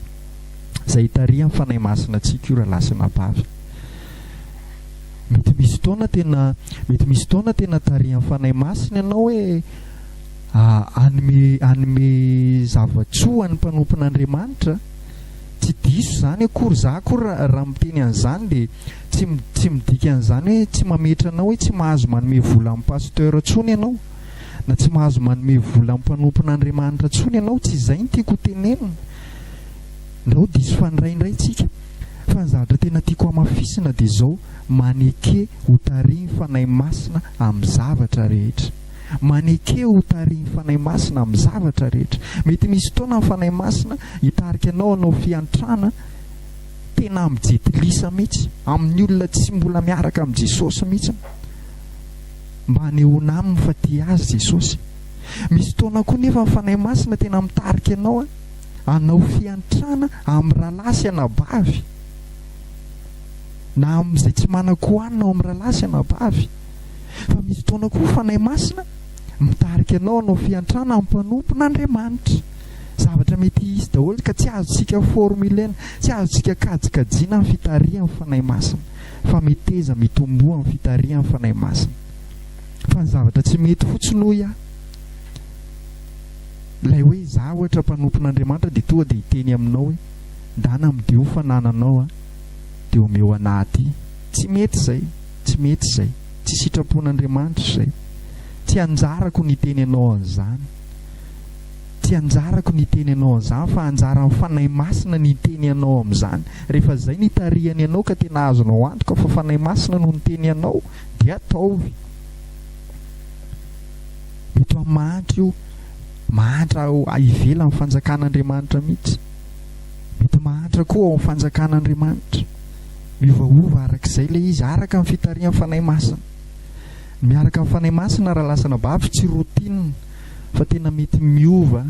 izay hitarihan'ny Fanahy Masina antsika io rahalahy sy anabavy. Mety misy fotoana tena, mety misy fotoana tena tarihan'ny Fanahy Masina ianao hoe hanome hanome zava-tsoa an'ny mpanompon'Andriamanitra. Tsy diso izany akory, za akory raha miteny an'izany dia tsy tsy midika an'izany hoe tsy mametra anao hoe tsy mahazo manome vola amin'ny pasteur intsony ianao. na tsy mahazo manome vola mpanompon'Andriamanitra intsony ianao, tsy izay ny tiako hotenenina, na ho diso fandray indray isika, fa ny zavatra tena tiako hamafisina dia izao, maneke ho tarihin'ny Fanahy Masina amin'ny zavatra rehetra. Maneke ho tarihin'ny Fanahy Masina amin'ny zavatra rehetra. Mety misy fotoana ny Fanahy Masina hitarika anao hanao fiantrana tena amin'ny jetilisa mihitsy, amin'ny olona tsy mbola miaraka amin'i Jesosy mihitsy. mba hanehoana aminy fa tia azy Jesosy. Misy fotoana koa nefa ny Fanahy Masina tena mitarika anao hanao fiantrana amin'ny rahalahy sy anabavy, na amin'izay tsy manan-kohanina ao amin'ny rahalahy sy anabavy. Fa misy fotoana koa Fanahy Masina mitarika anao hanao fiantrana amin'ny mpanompon'Andriamanitra. Zavatra mety hisy daholo ka tsy azontsika formulena, tsy azontsika kajikajiana ny fitarihan'ny Fanahy Masina. fa miteza mitomboa amin'ny fitarihan'ny Fanahy Masina. Fa ny zavatra tsy mety fotsiny hoy aho, ilay hoe izaho ohatra mpanompon'Andriamanitra dia tonga dia hiteny aminao hoe ndana amdio fanananao a, dia omeo anah aty. Tsy mety izay, tsy mety izay, tsy sitrapon'Andriamanitra izay. Tsy anjarako ny hiteny anao an'izany. Tsy anjarako ny hiteny anao an'izany fa anjaran'ny Fanahy Masina ny hiteny anao amin'izany. Rehefa izay no itarihany anao ka tena azonao antoka fa Fanahy Masina no niteny anao dia ataovy. Mety ho amin'ny mahantra io, mahantra ao ivelan'ny fanjakan'Andriamanitra mihitsy. Mety mahantra koa ao amin'ny fanjakan'Andriamanitra. Miovaova araka izay ilay izy, araka ny fitarihan'ny Fanahy Masina. Miaraka amin'ny Fanahy Masina raha lasa anabavy tsy routine. fa tena mety miova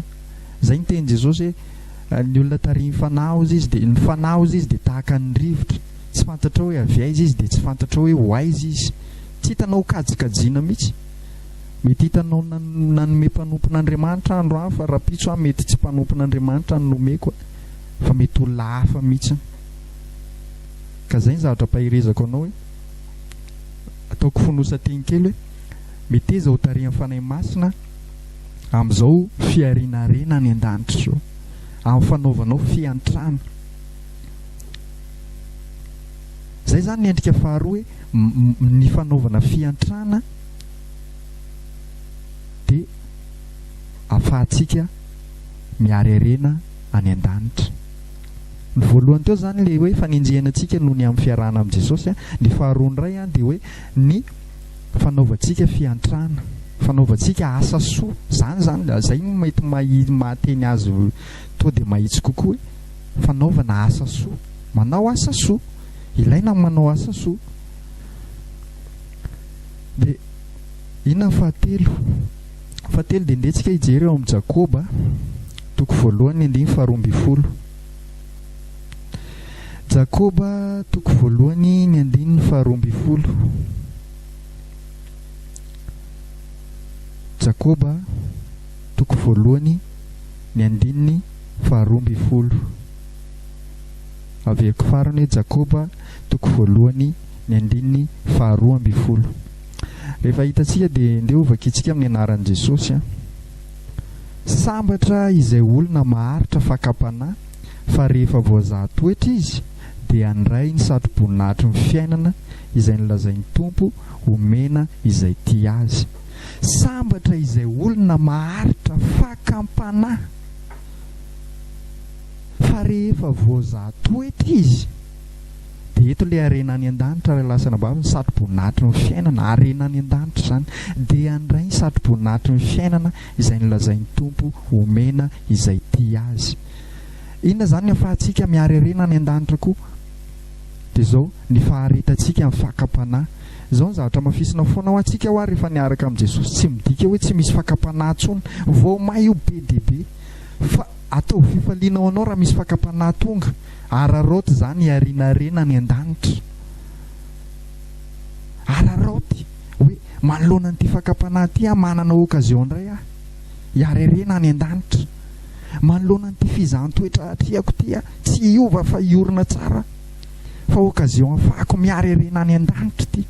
zay ny tenin'i Jesosy hoe ny olona tarihin'ny Fanahy ozy izy dia ny Fanahy ozy izy dia tahaka ny rivotra tsy fantatrao hoe avy aiza izy dia tsy fantatrao hoe ho aiza izy tsy hitanao kajikajiana mihitsy mety hitanao nanome mpanompon'Andriamanitra andro any fa rapitso aho mety tsy mpanompon'Andriamanitra ny nomeko fa mety olona hafa mihitsy ka zay ny zavatra paherezako anao hoe ataoko fonosan-teny kely hoe Meteza ho tarihan'ny Fanahy Masina amin'izao fiharianarena any an-danitra izao, amin'ny fanaovanao fiantrana. Izay izany ny endrika faharoa hoe ny fanaovana fiantrana dia afahantsika mihary harena any an-danitra. Ny voalohany teo izany ilay hoe fanenjehana antsika noho ny amin'ny fiarahana amin'i Jesosy. Ny faharoa indray dia hoe ny Fanaovantsika fiantrana, fanaovantsika asa soa, izany izany, izay no mety mahateny azy tonga dia mahitsy kokoa e! fanaovana asa soa, manao asa soa, ilaina ny manao asa soa. Dia inona ny fahatelo? Fahatelo dia ndeha tsika hijery ao amin'ny Jakoba, toko voalohany ny andininy faharoa ambin'ny folo. Jakoba toko voalohany ny andininy faharoa ambin'ny folo Jakoba toko voalohany ny andininy faharoa ambin'ny folo Avehako farany hoe Jakoba toko voalohany ny andininy faharoa ambin'ny folo Rehefa hitantsika dia ndeha ho vakintsika amin'ny anaran'i Jesosy an. Sambatra izay olona maharitra fakam-panahy fa rehefa voazaha toetra izy dia handray ny satroboninahitry ny fiainana izay nolazain'ny Tompo homena izay tia Azy. Sambatra izay olona maharitra fakam-panahy fa rehefa voazaha toetra izy. Dia eto ilay harena any an-danitra ary lasana babo ny satroboninahitry ny fiainana. Harena any an-danitra izany. Dia handray ny satroboninahitry ny fiainana izay nolazain'ny Tompo homena izay tia Azy. Inona izany ny afahantsika mihary harena any an-danitra koa? Dia izao, ny faharetantsika, ny fakam-panahy. Izao ny zavatra hamafisina foana ho antsika ho'a rehefa niaraka amin'i Jesosy, tsy midika hoe tsy misy fakam-panahy intsony. Vao may ho be dia be. Fa ataovy fifaliana ho anao raha misy fakam-panahy tonga. Araraoty izany hiarinarena any an-danitra. Araraoty hoe manoloana an'ity fakam-panahy ity aho, manana occasion indray aho hiarerena any an-danitra. Manoloana an'ity fizahan-toetra atrehako ity aho, tsy hiova fa hiorina tsara fa occasion hafahako miarerena any an-danitra ity.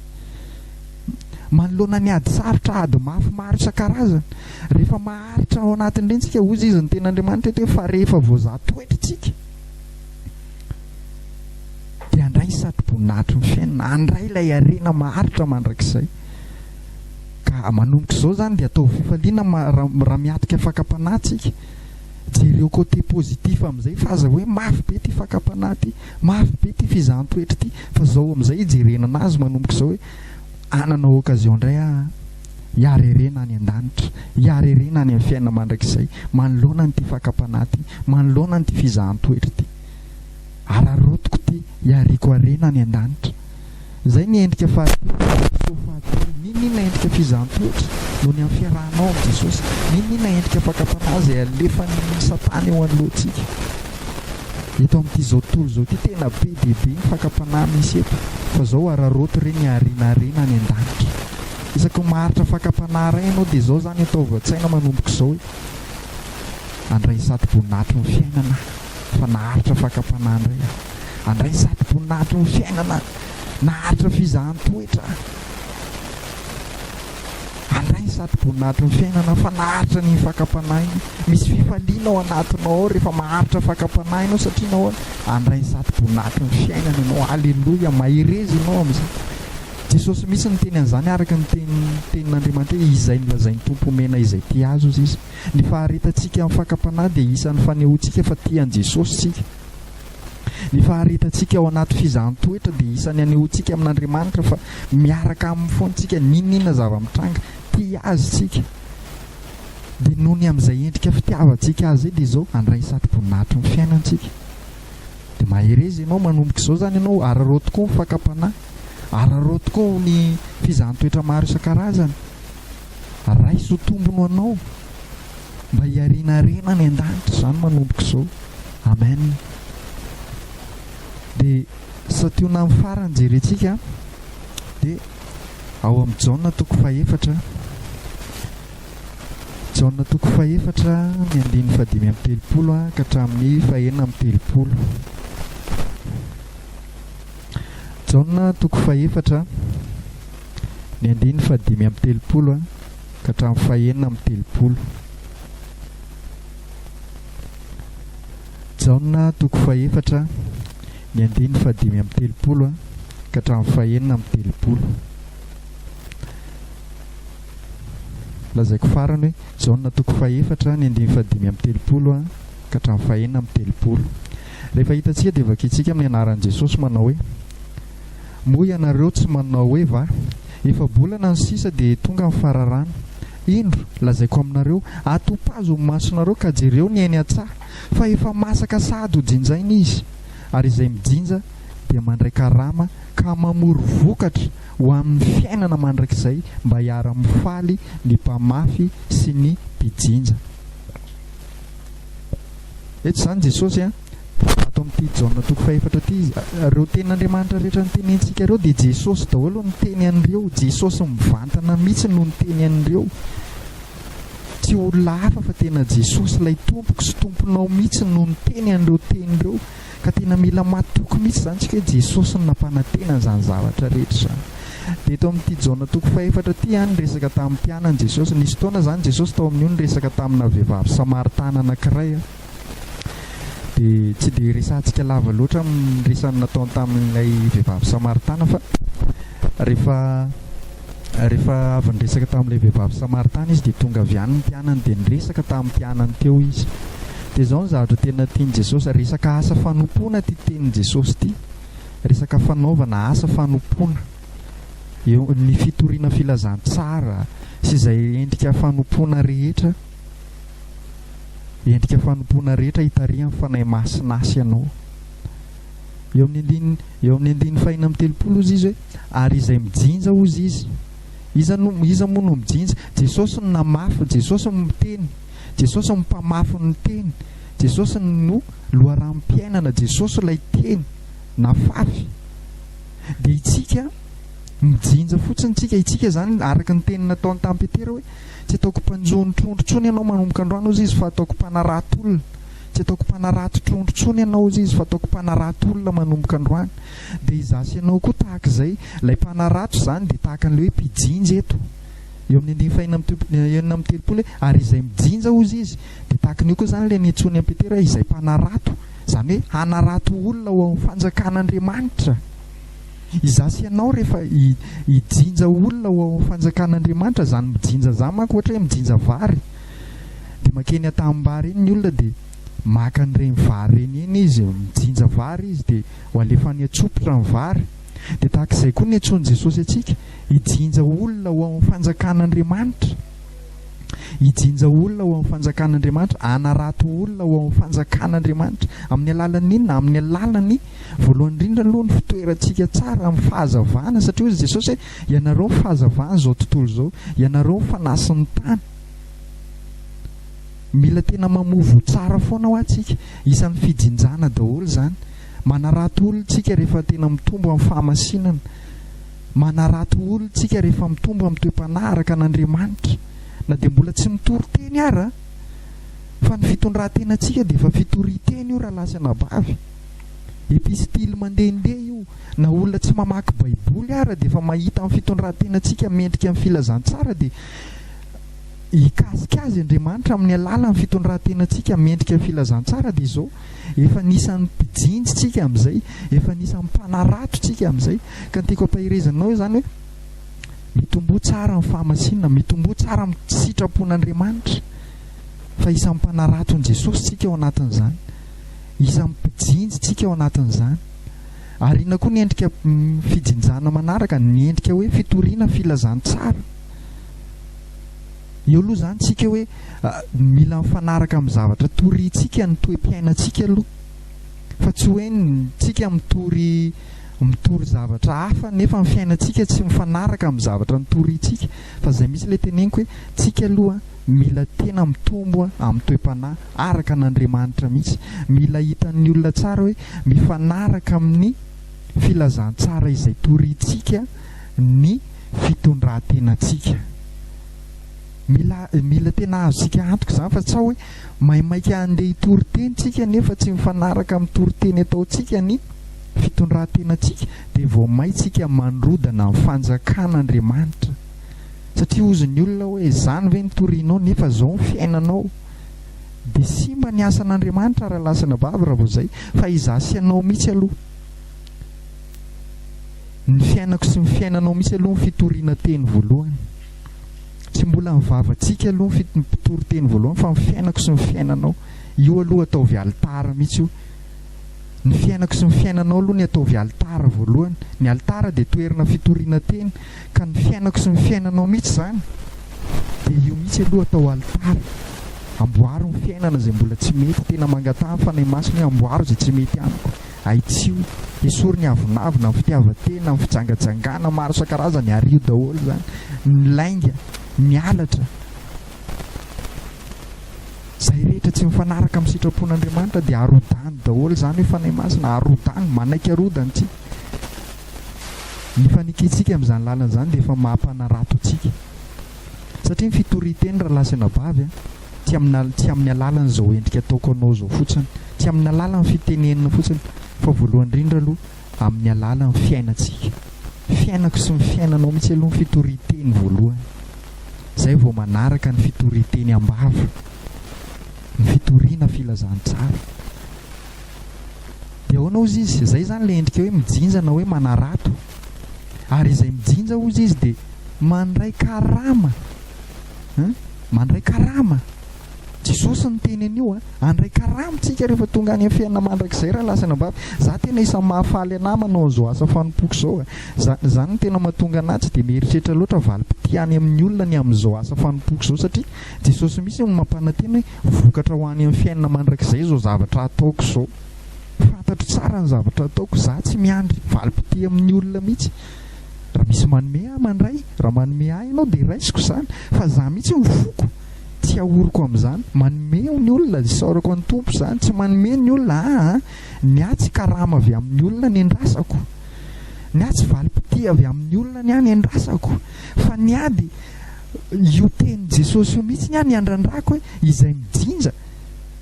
Manoloana ny ady sarotra, ady mafy maro isan-karazany, rehefa maharitra ao anatin'ireny isika, hoy izy ny tenin'Andriamanitra eto hoe fa rehefa voazaha toetra isika, dia handray ny satroboninahitry ny fiainana, handray ilay harena maharitra mandrakizay. Ka manomboka izao izany dia ataovy fifaliana raha miatrika fakam-panahy tsika. Jereo côté positif amin'izay fa aza hoe mafy be ity fakam-panahy ity, mafy be ity fizahan-toetra ity fa izao amin'izay hijerena anazy manomboka izao hoe hanana occasion indray aho hiareherena any an-danitra, hiareherena any amin'ny fiainana mandrakizay, manoloana an'ity fakam-panahy ity, manoloana an'ity fizahan-toetra ity. Araraotiko ity, iariako harena any an-danitra. Izay ny endrika fahatelo, feo fahatelo. N'inon'inona endrika fizahan-toetra no ny amin'ny fiarahanao amin'i Jesosy, n'inon'inona endrika fakam-panahy izay alefan'i Satana eo anoloantsika. Eto amin'ity izao tontolo izao ity, tena be dia be ny fakam-panahy misy eto, fa izao araraoto re ny harena harena any an-danitra. Isaky ny maharitra fakam-panahy iray ianao dia izao izany ataovy an-tsaina manomboka izao hoe, Handray ny satim-boninahitry ny fiainana aho, fa naharitra fakam-panahy indray aho. Handray ny satim-boninahitry ny fiainana aho, naharitra fizahan-toetra aho. Handray ny satim-boninahitry ny fiainana aho, fa naharitra an'iny fakam-panahy iny. Misy fifaliana ao anatinao ao rehefa maharitra fakam-panahy ianao, satria nahoana? Handray ny satim-boninahitry ny fiainana ianao. Aleloia! Mahereza ianao amin'izay. Jesosy mihitsy niteny an'izany araka ny teny tenin'Andriamanitra hoe izay nolazain'ny Tompo homena izay tia azy hozy izy. Ny faharetantsika amin'ny fakam-panahy dia isan'ny fanehoantsika fa tia an'i Jesosy isika. Ny faharetantsika ao anaty fizahan-toetra dia isan'ny anehoantsika amin'Andriamanitra fa miaraka aminy foana isika n'inon'inona zava-mitranga, tia azy isika. Dia noho ny amin'izay endrika fitiavantsika azy izay dia izao handray satroboninahitry ny fiainantsika. Dia mahereza ianao manomboka izao izany ianao, ararao tokoa ny fakam-panahy. Araraoty koa ho ny fizahan-toetra maro isan-karazany. Raiso tombony ho anao mba hiariana harena any an-danitra izany manomboka izao. Amen. Dia santionana amin'ny farany jerentsika dia ao amin'ny Jaona toko fahefatra. Jaona toko fahefatra ny andininy fahadimy amin'ny telopolo ka hatramin'ny fahenina amin'ny telopolo. Jaona toko fahefatra, ny andininy fahadimy amby telopolo ka hatramin'ny fahenina amby telopolo. Jaona toko fahefatra, ny andininy fahadimy amby telopolo ka hatramin'ny fahenina amby telopolo. Lazaiko farany hoe Jaona toko fahefatra, ny andininy fahadimy amby telopolo ka hatramin'ny fahenina amby telopolo. Rehefa hitantsika dia vakintsika amin'ny anaran'i Jesosy manao hoe, Moa ianareo tsy manao hoe va? Efa-bolana no sisa dia tonga ny fararano. Indro, lazaiko aminareo, atopazo ny masonareo ka jereo ny ainy an-tsaha, fa efa masaka sahady ho jinjaina izy. Ary izay mijinja dia mandray karama ka mamory vokatra ho amin'ny fiainana mandrakizay mba hiara-mifaly ny mpamafy sy ny mpijinja. Eto izany Jesosy dia ato amin'ity Jaona toko fahefatra ity izy. Ireo tenin'Andriamanitra rehetra notenenintsika ireo dia Jesosy daholo no niteny an'ireo. Jesosy mivantana mihitsy no niteny an'ireo. Tsy olona hafa fa tena Jesosy ilay tompoko sy tomponao mihitsy no niteny an'ireo teny ireo. Ka tena mila matoky mihitsy izany isika hoe Jesosy no nampanantena an'izany zavatra rehetra izany. Dia eto amin'ity Jaona toko fahefatra ity ihany niresaka tamin'ny mpianany Jesosy. Nisy fotoana izany Jesosy tao amin'io niresaka tamina vehivavy Samaritana anankiray. Dia tsy dia resahantsika lava loatra ny resany nataony tamin'ilay vehivavy Samaritana fa rehefa Rehefa avy niresaka tamin'ilay vehivavy Samaritana Izy dia tonga avy any ny mpianany dia niresaka tamin'ny mpianany teo Izy. Dia izao ny zavatra tena tian'i Jesosy, resaka asa fanompoana ity tenin'i Jesosy ity, resaka fanaovana asa fanompoana, eo, ny fitoriana filazantsara sy izay endrika fanompoana rehetra, endrika fanompoana rehetra hitarihan'ny Fanahy Masina Azy ianao. Eo amin'ny andininy, eo amin'ny andininy fahina amby telopolo hozy izy hoe, Ary izay mijinja hozy izy. Iza no, iza moa no mijinja? Jesosy no namafy, Jesosy no miteny, Jesosy no mpamafy ny teny, Jesosy no loharanom-piainana, Jesosy ilay teny nafafy. Dia itsika mijinja fotsiny tsika, itsika izany araka ny teny nataony tamin'i Petera hoe, Tsy ataoko mpanjono trondro intsony ianao manomboka androany hozy izy fa ataoko mpanarato olona. Tsy ataoko mpanarato trondro tsony ianao hozy izy fa ataoko mpanarato olona manomboka androany. Dia izaho sy ianao koa tahaka izay. Ilay mpanarato izany dia tahaka an'ilay hoe mpijinja eto. Eo amin'ny andininy fahenina amby telopolo, enina amby telopolo hoe, Ary izay mijinja hozy izy. Dia tahaka an'io koa izany ilay niantsoan'i an'i Petera hoe izay mpanarato. Izany hoe hanarato olona ho amin'ny fanjakan'Andriamanitra. Izaho sy ianao rehefa hijinja olona ho ao amin'ny fanjakan'Andriamanitra, izany mijinja izany manko ohatra hoe mijinja vary. dia makeny an-tanimbary eny ny olona dia maka an'ireny vary ireny eny izy, mijinja vary izy dia ho alefany an-tsompitra ny vary. Dia tahaka izay koa ny antsoin'i Jesosy antsika, hijinja olona ho amin'ny fanjakan'Andriamanitra. Hijinja olona ho amin'ny fanjakan'Andriamanitra, hanarato olona ho amin'ny fanjakan'Andriamanitra. Amin'ny alalan'ny inona? Amin'ny alalan'ny voalohany indrindra aloha ny fitoerantsika tsara amin'ny fahazavana, satria hoy Jesosy hoe ianareo ny fahazavana izao tontolo izao, ianareo ny fanasin'ny tany. Mila tena mamovo tsara foana hoa tsika. Isan'ny fijinjana daholo izany. Manarato olona tsika rehefa tena mitombo amin'ny fahamasinana. Manarato olona tsika rehefa mitombo amin'ny toe-panahy araka an'Andriamanitra. Na dia mbola tsy mitory teny ara. Fa ny fitondran-tenantsika dia efa fitoria-teny io rahalahy sy anabavy. Epistily mandehandeha io. Na olona tsy mamaky baiboly ara dia efa mahita amin'ny fitondran-tenantsika mendrika ny filazantsara dia hikasika azy Andriamanitra amin'ny alalan'ny fitondrantenantsika mendrika filazantsara dia izao, efa anisan'ny mpijinja tsika amin'izay, efa anisan'ny mpanarato tsika amin'izay. Ka ny tiako ampaherezana anao izany hoe mitomboa tsara amin'ny fahamasinana, mitomboa tsara amin'ny sitrapon'Andriamanitra fa isan'ny mpanaraton'i Jesosy tsika ao anatin'izany, isan'ny mpijinja tsika ao anatin'izany. Ary inona koa ny endrika fijinjana manaraka, ny endrika hoe fitoriana filazantsara. Eo aloha izany tsika hoe mila mifanaraka amin'ny zavatra torintsika ny toe-piainantsika aloha. Fa tsy hoe tsika mitory mitory zavatra hafa nefa ny fiainantsika tsy mifanaraka amin'ny zavatra nitorintsika. Fa izay misy ilay teneniko hoe tsika aloha mila tena mitombo amin'ny toe-panahy araka an'Andriamanitra mihitsy. Mila hitan'ny olona tsara hoe mifanaraka amin'ny filazantsara izay torintsika. ny fitondrantenantsika. Mila mila tena azontsika antoka izany fa tsa hoe maimaika handeha hitory teny tsika nefa tsy mifanaraka amin'ny toriteny ataontsika ny fitondrantenantsika dia vao may tsika mandrodana ny fanjakan'Andriamanitra. Satria hozy ny olona hoe izany ve ny torianao nefa izao ny fiainanao. Dia simba ny asan'Andriamanitra raha lasana bavy raha vao izay fa izaho sy ianao mihitsy aloha. Ny fiainako sy ny fiainanao misy aloha ny fitoriana teny voalohany. Tsy mbola ny vavantsika aloha ny mpitory teny voalohany fa ny fiainako sy ny fiainanao. Io aloha ataovy alitara mihitsy io. Ny fiainako sy ny fiainanao aloha ny ataovy alitara voalohany. Ny alitara dia toerana fitoriana teny ka ny fiainako sy ny fiainanao mihitsy izany dia io mihitsy aloha atao alitara. Amboaro ny fiainana izay mbola tsy mety, tena mangataha ny Fanahy Masina hoe amboaro izay tsy mety amiko. Ahitsio, esory ny avonavona, ny fitiavan-tena, ny fijangajangana maro isan-karazany, ario daholo izany, ny lainga, ny halatra. Izay rehetra tsy mifanaraka amin'ny sitrapon'Andriamanitra dia arodany daholo, izany hoe Fanahy Masina, arodany, manaiky arodany tsika. Ny fanekentsika amin'izany lalana izany dia efa maha-mpanarato antsika. Satria ny fitorian-teny raha lahy sy anabavy an, tsy amin'ny tsy amin'ny alalan' izao endrika ataoko anao izao fotsiny, tsy amin'ny alalan' ny fitenenina fotsiny, fa voalohany indrindra aloha amin'ny alalan' ny fiainantsika. Fiainako sy ny fiainanao mihitsy aloha ny fitorian-teny voalohany, izay vao manaraka ny fitorian-teny am-bava, ny fitoriana filazantsara. Dia ahoana hozy izy? Izay izany ilay endrika hoe mijinja na hoe manarato. Ary izay mijinja hozy izy dia mandray karama. Hein? Mandray karama. Jesosy niteny an'io a. Andray karama tsika rehefa tonga any amin'ny fiainana mandrakizay raha lasa anabavy. Za tena isan'ny mahafaly anah manao an'izao asa fanompoako izao a. Zany, zany no tena mahatonga anah tsy dia mieritreritra loatra valim-pitia any amin'ny olona ny amin'izao asa fanompoako izao satria Jesosy mihitsy no mampanantena hoe Vokatra ho any amin'ny fiainana mandrakizay izao zavatra ataoko izao. Fantatro tsara ny zavatra ataoko, izaho tsy miandry valim-pitia amin'ny olona mihitsy. Raha misy manome ahy, mandray, raha manome ahy ianao dia raisiko izany, fa izaho mihitsy no foko, tsy ahoriko amin'izany. Manome ny olona, isaorako an'ny Tompo izany, tsy manome ny olona, aa, ny ahy tsy karama avy amin'ny olona ny andrasako, ny ahy tsy valim-pitia avy amin'ny olona ny ahy ny andrasako, fa ny ahy dia Io tenin'i Jesosy io mihitsy ny ahy niandrandrako hoe izay mijinja,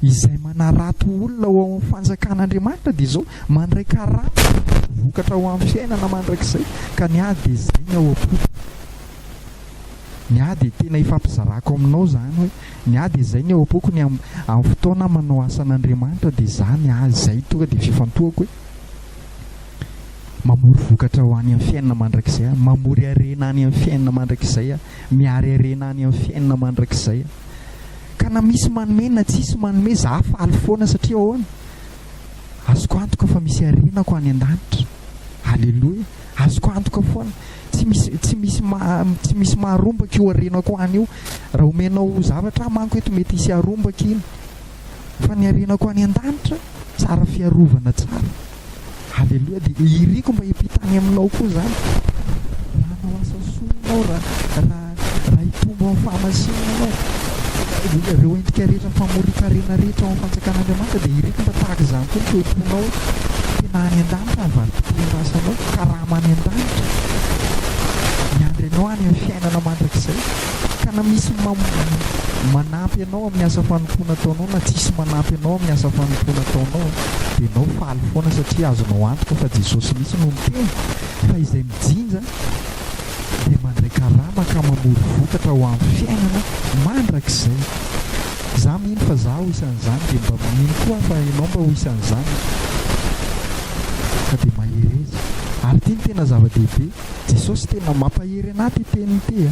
izay manarato olona ho ao amin'ny fanjakan'Andriamanitra dia izao mandray karama vokatra ho amin'ny fiainana mandrakizay ka ny ahy dia izay ny ao am-poko. Ny ahy dia tena ifampizarako aminao izany hoe ny ahy dia izay ny ao am-poko ny amin'ny fotoana aho manao asan'Andriamanitra dia izaho ny ahy izay tonga dia fifantohako hoe Mamory vokatra ho any amin'ny fiainana mandrakizay aho. Mamory harena any amin'ny fiainana mandrakizay aho. Miary harena any amin'ny fiainana mandrakizay aho. Ka na misy manome na tsisy manome, izaho faly foana satria ahoana? Azoko antoka fa misy harenako any an-danitra. Aleloia. Azoko antoka foana. Tsy misy tsy misy tsy misy maharombaka io harenako any io. Raha omenao zavatra aho manko eto mety hisy harombaka iny. fa ny harenako any an-danitra tsara fiarovana tsara aleloa dia iriko mba hiampita any aminao koa zany raha hanao asa soa ianao raha raha raha hitombo amin'ny fahamasinana ianao ireo endrika rehetra famorian-karena rehetra ao amin'ny fanjakan'Andriamanitra dia iriko mba tahaka izany koa ny toe-ponao tena any an-danitra ny valim-pitondrasanao karama any an-danitra miandry anao any amin'ny fiainana mandrakizay Ka na misy manampy anao amin'ny asa fanompoana ataonao na tsisy manampy anao amin'ny asa fanompoana ataonao dia enao faly foana satria azonao antoka fa Jesosy mihitsy no niteny fa izay mijinja dia mandray karama ka mamory vokatra ho amin'ny fiainana mandrakizay. Za mino fa za ho isan'izany dia mba mino koa aho fa enao mba ho isan'izany ka dia mahereza. Ary ity no tena zava-dehibe. Jesosy tena mampahery anah ty teniny ity a!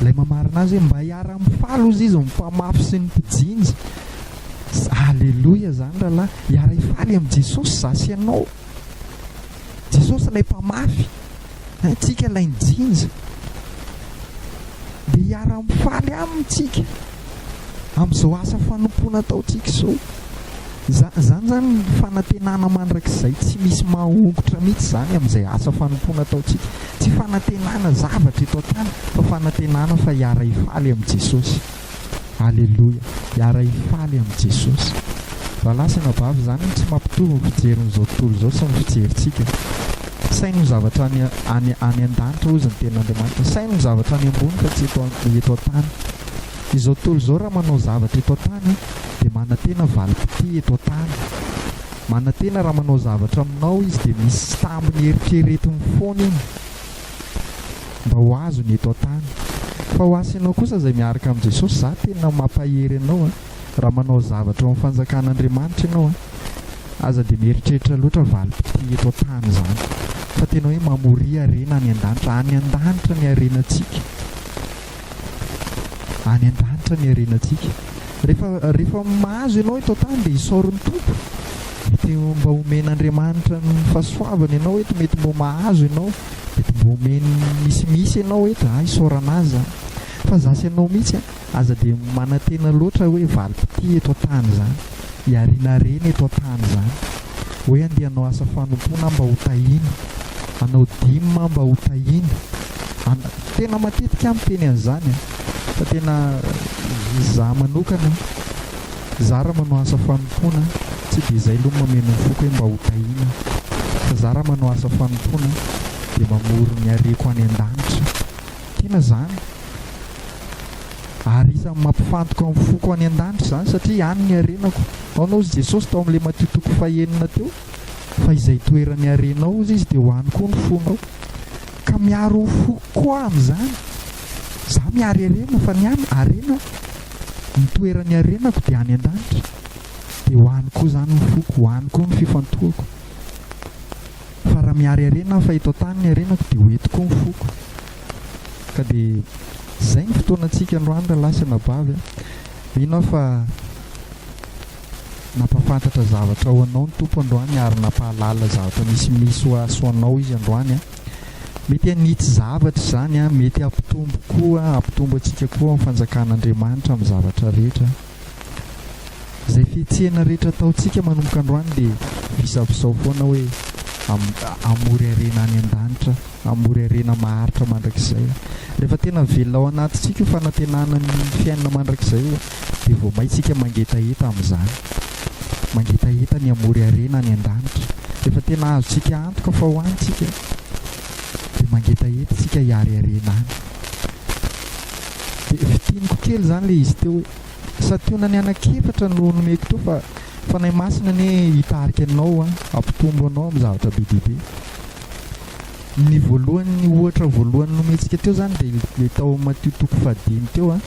Ilay mamarana azy hoe mba hiara mifaly ozy izy ny mpamafy sy ny mpijinja. Aleloia zany ralahy, hiara hifaly amin'i Jesosy za sy ianao. Jesosy ilay mpamafy, tsika ilay nijinja. Dia hiara mifaly aminy tsika. amin'izao asa fanompoana ataontsika izao. Izany izany fanantenana mandrakizay tsy misy mahongotra mihitsy izany amin'izay asa fanompoana ataontsika. Tsy fanantenana zavatra eto an-tany fa fanantenana fa hiara-hifaly amin'i Jesosy. Aleloia, hiara-hifaly amin'i Jesosy. Rahalahy sy anabavy, izany no tsy mampitovy ny fijerin'izao tontolo izao sy ny fijerintsika. Saino ny zavatra any, any, any an-danitra hozy ny tenin'Andriamanitra. Saino ny zavatra any ambony fa tsy eto, eto an-tany. Izao tontolo izao raha manao zavatra eto an-tany dia manantena valim-pitia eto an-tany. Manantena raha manao zavatra aminao izy dia misy sambony eritreretiny foana iny mba ho azony eto an-tany. Fa ho asy ianao kosa izay miaraka amin'i Jesosy, izaho tena mampahery anao raha manao zavatra ao amin'ny fanjakan'Andriamanitra ianao an! Aza dia mieritreritra loatra valim-pitia eto an-tany izany fa tena hoe mamoria harena any an-danitra. Any an-danitra ny harenantsika. any an-danitra ny harenantsika. Rehefa, rehefa mahazo ianao eto an-tany dia isaoro ny Tompo. Mety mba omen'Andriamanitra ny fahasoavany ianao eto, mety mba mahazo ianao, mety mba omeny misimisy ianao eto, ah isaorana azy zany. Fa zasy ianao mihitsy an, aza dia manantena loatra hoe valim-pitia eto an-tany zany. hiarinarena eto an-tany izany hoe andeha hanao asa fanompoana aho mba ho tahiana, hanao dime aho mba ho tahiana, ana-, tena matetika aho miteny an'izany an, fa tena izaho manokana izaho raha manao asa fanompoana tsy dia izay aloha ny mameno ny foko hoe mba ho tahiana fa izaho raha manao asa fanompoana dia mamory ny hareko any an-danitra, tena izany. Ary isan'ny mampifantoka ny foko any an-danitra izany satria any ny harenako. Nahoana hozy Jesosy tao amin'ilay Matio toko fahenina teo? Fa izay itoeran'ny harenao hozy izy dia ho any koa ny fonao. Ka miaro ny foko koa amin'izany. Izaho miaro harena fa ny any harena ny toeran'ny harenako dia any an-danitra. Dia ho any koa izany ny foko, ho any koa ny fifantohako. Fa raha miaro harena aho fa eto an-tany ny harenako dia ho eto koa ny foko. ka dia izay ny fotoanantsika androany rahalahy sy anabavy a! mino aho fa nampafantatra zavatra ho anao ny Tompo androany ary nampahalala zavatra misimisy ho ahy sy ho anao izy androany a! mety hanitsy zavatra izany a! mety hampitombo koa hampitombo antsika koa amin'ny fanjakan'Andriamanitra amin'ny zavatra rehetra Izay fihetsehana rehetra ataontsika manomboka androany dia visavizao foana hoe hamory harena any an-danitra, hamory harena maharitra mandrakizay. Rehefa tena velona ao anatintsika io fanantenana ny fiainana mandrakizay io dia vao may tsika mangetaheta amin'izany. Mangetaheta ny hamory harena any an-danitra. Rehefa tena azontsika antoka fa ho any tsika dia mangetaheta tsika hiary harena any. Dia fintiniko kely izany ilay izy teo hoe, santionany anankiefatra no nomeko teo fa Fanahy Masina anie hitarika anao an, hampitombo anao amin'ny zavatra be dia be. Ny voalohany, ny ohatra voalohany nomentsika teo izany dia ilay tao amin'ny Matio toko fahadimy teo an,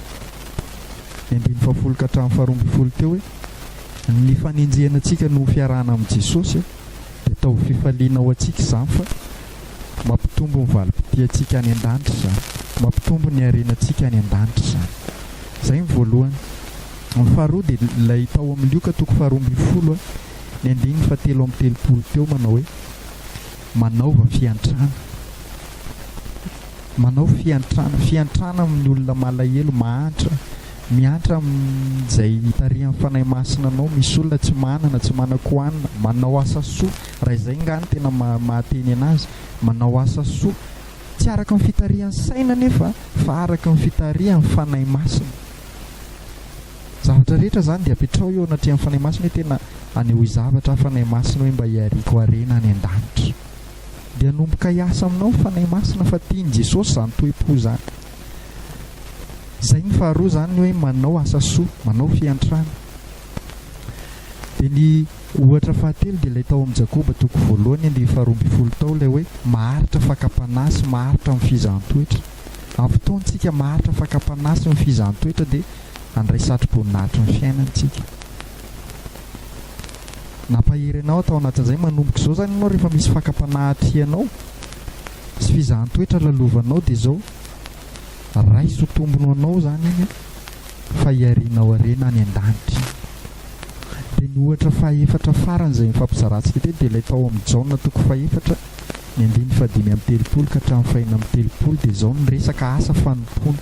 ny andininy fahafolo ka hatramin'ny faharoa ambin'ny folo teo hoe, ny fanenjehana antsika no ho fiarahana amin'i Jesosy an, dia ataovy fifaliana ho antsika izany fa Mampitombo ny valim-pitiantsika any an-danitra izany. Mampitombo ny harenantsika any an-danitra izany. Izay ny voalohany. Ny faharoa dia ilay tao amin'ny Lioka toko faharoa ambin'ny folo, ny andininy fahatelo amby telopolo teo manao hoe, Manaova fiantrana. Manao fiantrana. Fiantrana amin'ny olona malahelo, mahantra. Mihantra amin'izay tarihan'ny Fanahy Masina anao. Misy olona tsy manana, tsy manan-kohanina. Manao asa soa. Raha izay ngah no tena mahateny anazy, manao asa soa, tsy araka ny fitarihan'ny saina anefa fa araka ny fitarihan'ny Fanahy Masina. Zavatra rehetra izany dia apetraho eo anatrehan'ny Fanahy Masina hoe tena anehoy zavatra aho Fanahy Masina hoe mba hiariako harena any an-danitra. Dia hanomboka hiasa aminao ny Fanahy Masina fa tian'i Jesosy izany toe-po izany. Izay ny faharoa izany ny hoe manao asa soa, manao fiantrana. Dia ny ohatra fahatelo dia ilay tao amin'ny Jakoba toko voalohany andinin'ny faharoa ambin'ny folo tao ilay hoe maharitra fakam-panahy sy maharitra amin'ny fizahan-toetra. Amin'ny fotoantsika maharitra fakam-panahy sy ny fizahan-toetra dia handray satroboninahitry ny fiainana isika. Nampahery anao atao anatin'izay manomboka izao izany ianao rehefa misy fakam-panahy atrianao sy fizahan-toetra lalovanao dia izao. Raiso tombony ho anao izany iny fa hiarianao harena any an-danitra. Dia ny ohatra fahefatra farany izay nifampizarantsika teny dia ilay tao amin'ny Jaona toko fahefatra ny andininy fahadimy amby telopolo ka hatramin'ny fahenina amby telopolo dia izao ny resaka asa fanompoana.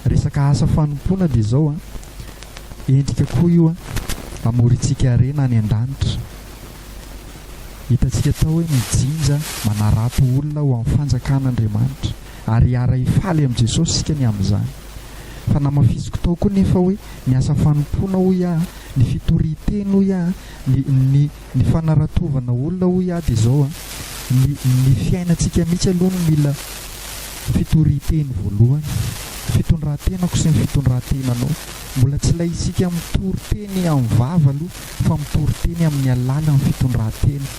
Resaka asa fanompoana dia izao an, endrika koa io an, hamorintsika harena any an-danitra. Hitantsika tao hoe ny jinja manarato olona ho amin'ny fanjakan'Andriamanitra, ary hiara-hifaly amin'i Jesosy isika ny amin'izany. Fanamafisiko tao koa nefa hoe ny asa fanompoana, hoy aho, ny fitorian-teny, hoy aho, ny, ny, ny fanaratovana olona, hoy aho, dia izao an, ny, ny fiainantsika mihitsy aloha no mila fitorian-teny voalohany. Fitondran-tenako sy ny fitondran-tenanao. Mbola tsy ilay isika mitory teny amin'ny vava aloha. fa mitory teny amin'ny alalan'ny fitondran-tena.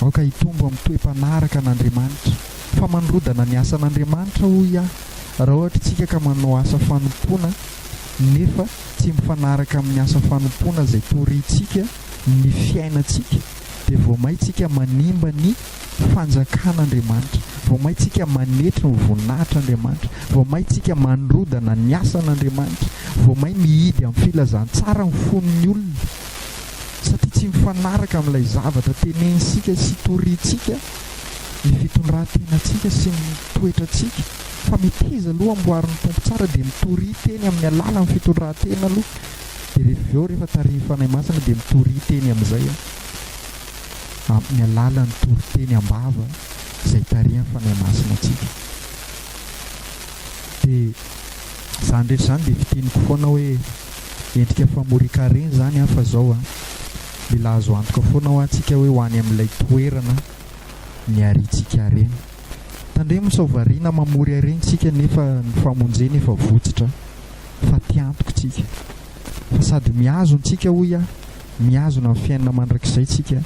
Aoka hitombo amin'ny toe-panaraka an'Andriamanitra, fa manorodana ny asan'Andriamanitra, hoy aho, raha ohatra isika ka manao asa fanompoana nefa tsy mifanaraka amin'ny asa fanompoana izay torintsika ny fiainantsika, dia vao maintsika manimba ny Fanjakan'Andriamanitra, vao maintsika manetry ny voninahitr'Andriamanitra, vao maintsika mandrodana ny asan'Andriamanitra, vao may mihidy amin'ny filazantsara ny fon'ny olona, satria tsy mifanaraka amin'ilay zavatra tenenintsika sy torintsika ny fitondran-tenantsika sy ny toetrantsika, fa meteza aloha amboarin'ny Tompo tsara dia mitoria teny amin'ny alalan'ny fitondran-tena aloha. Dia rehefa avy eo, rehefa tarihin'ny Fanahy Masina dia mitory hiteny amin'izay aho, amin'ny alalan'ny toriteny am-bava izay tarihan'ny Fanahy Masina antsika. Dia izany rehetra izany dia fiteniko foana hoe, endrika famorian-karena izany an, fa izao an, mila azo antoka foana hoa antsika hoe ho any amin'ilay toerana niharintsika harena. Tandremo sao variana mamory harena isika nefa ny famonjena efa votsotra. fa tia antoko tsika, fa sady mihazon tsika hoy aho, mihazona ny fiainana mandrakizay tsika,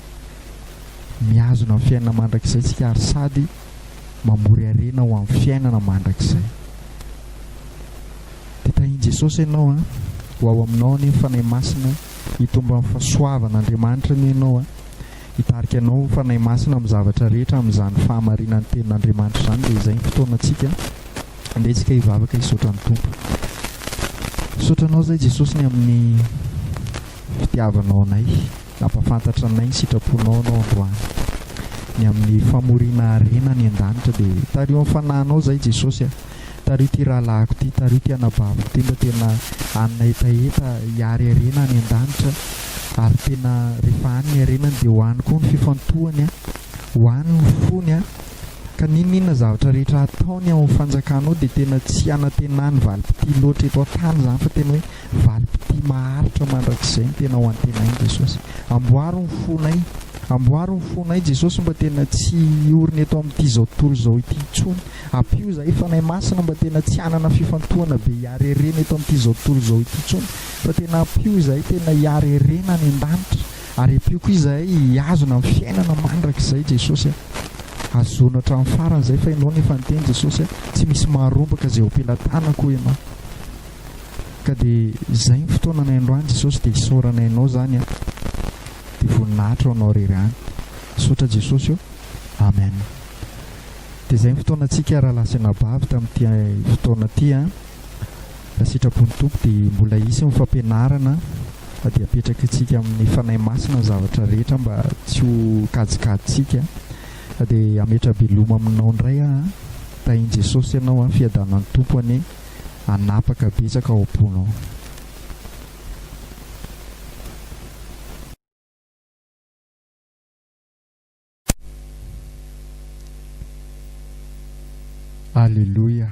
mihazona ny fiainana mandrakizay tsika ary sady mamory harena ho amin'ny fiainana mandrakizay. Dia tahin Jesosy ianao an, ho ao aminao anie ny Fanahy Masina, hitombo amin'ny fahasoavan Andriamanitra anie ianao an, hitarika anao ny Fanahy Masina amin'ny zavatra rehetra amin'izany fahamarinan'ny tenin Andriamanitra izany dia izay ny fotoana tsika. Andeha isika hivavaka hisaotra ny Tompo. Misaotra Anao izay Jesosy ny amin'ny fitiavanao anay. Nampafantatra anay ny sitraponao Anao androany. Ny amin'ny famoriana harena any an-danitra dia tariho amin'ny fanahinao izay Jesosy a. Tariho ity rahalahiko ity, tariho ity anabaviko ity mba tena hanina hetaheta hiary harena any an-danitra ary tena rehefa any ny harenany dia ho any koa ny fifantohany a. Ho any ny fony a. ka n'inon'inona zavatra rehetra hataony ao amin'ny fanjakana ao dia tena tsy hanantenany valim-pitia loatra eto an-tany izany fa tena hoe valim-pitia maharitra mandrakizay ny tena ho antenainy Jesosy. Amboaro ny fonay, amboaro ny fonay Jesosy mba tena tsy hiorina eto amin'ity izao tontolo izao ity intsony. Ampio izahay Fanahy Masina mba tena tsy hanana fifantohana be hiareherena eto amin'ity izao tontolo izao ity intsony fa tena ampio izahay tena hiareherena any an-danitra. Ary empiako izahay hihazona ny fiainana mandrakizay Jesosy a! Hazono hatramin'ny farany izay fa Ianao no efa niteny Jesosy a! Tsy misy maharombaka izay hopelatànako hoy Ianao. Ka dia izay ny fotoananay androany Jesosy dia isaorana Ianao izany a! Dia voninahitra ho Anao irery ihany. Misaotra Jesosy ô! Amen. Dia izay ny fotoanantsika rahalahy sy anabavy tamin'ity fotoana ity a! Raha sitrapon'ny Tompo dia mbola hisy ny fampianarana dia apetrakintsika amin'ny Fanahy Masina ny zavatra rehetra mba tsy ho kajikajintsika dia hametra-beloma aminao indray aho an! Tahin'i Jesosy ianao an! Fiadanan'ny Tompo anie hanapaka betsaka ao am-ponao. Aleloia.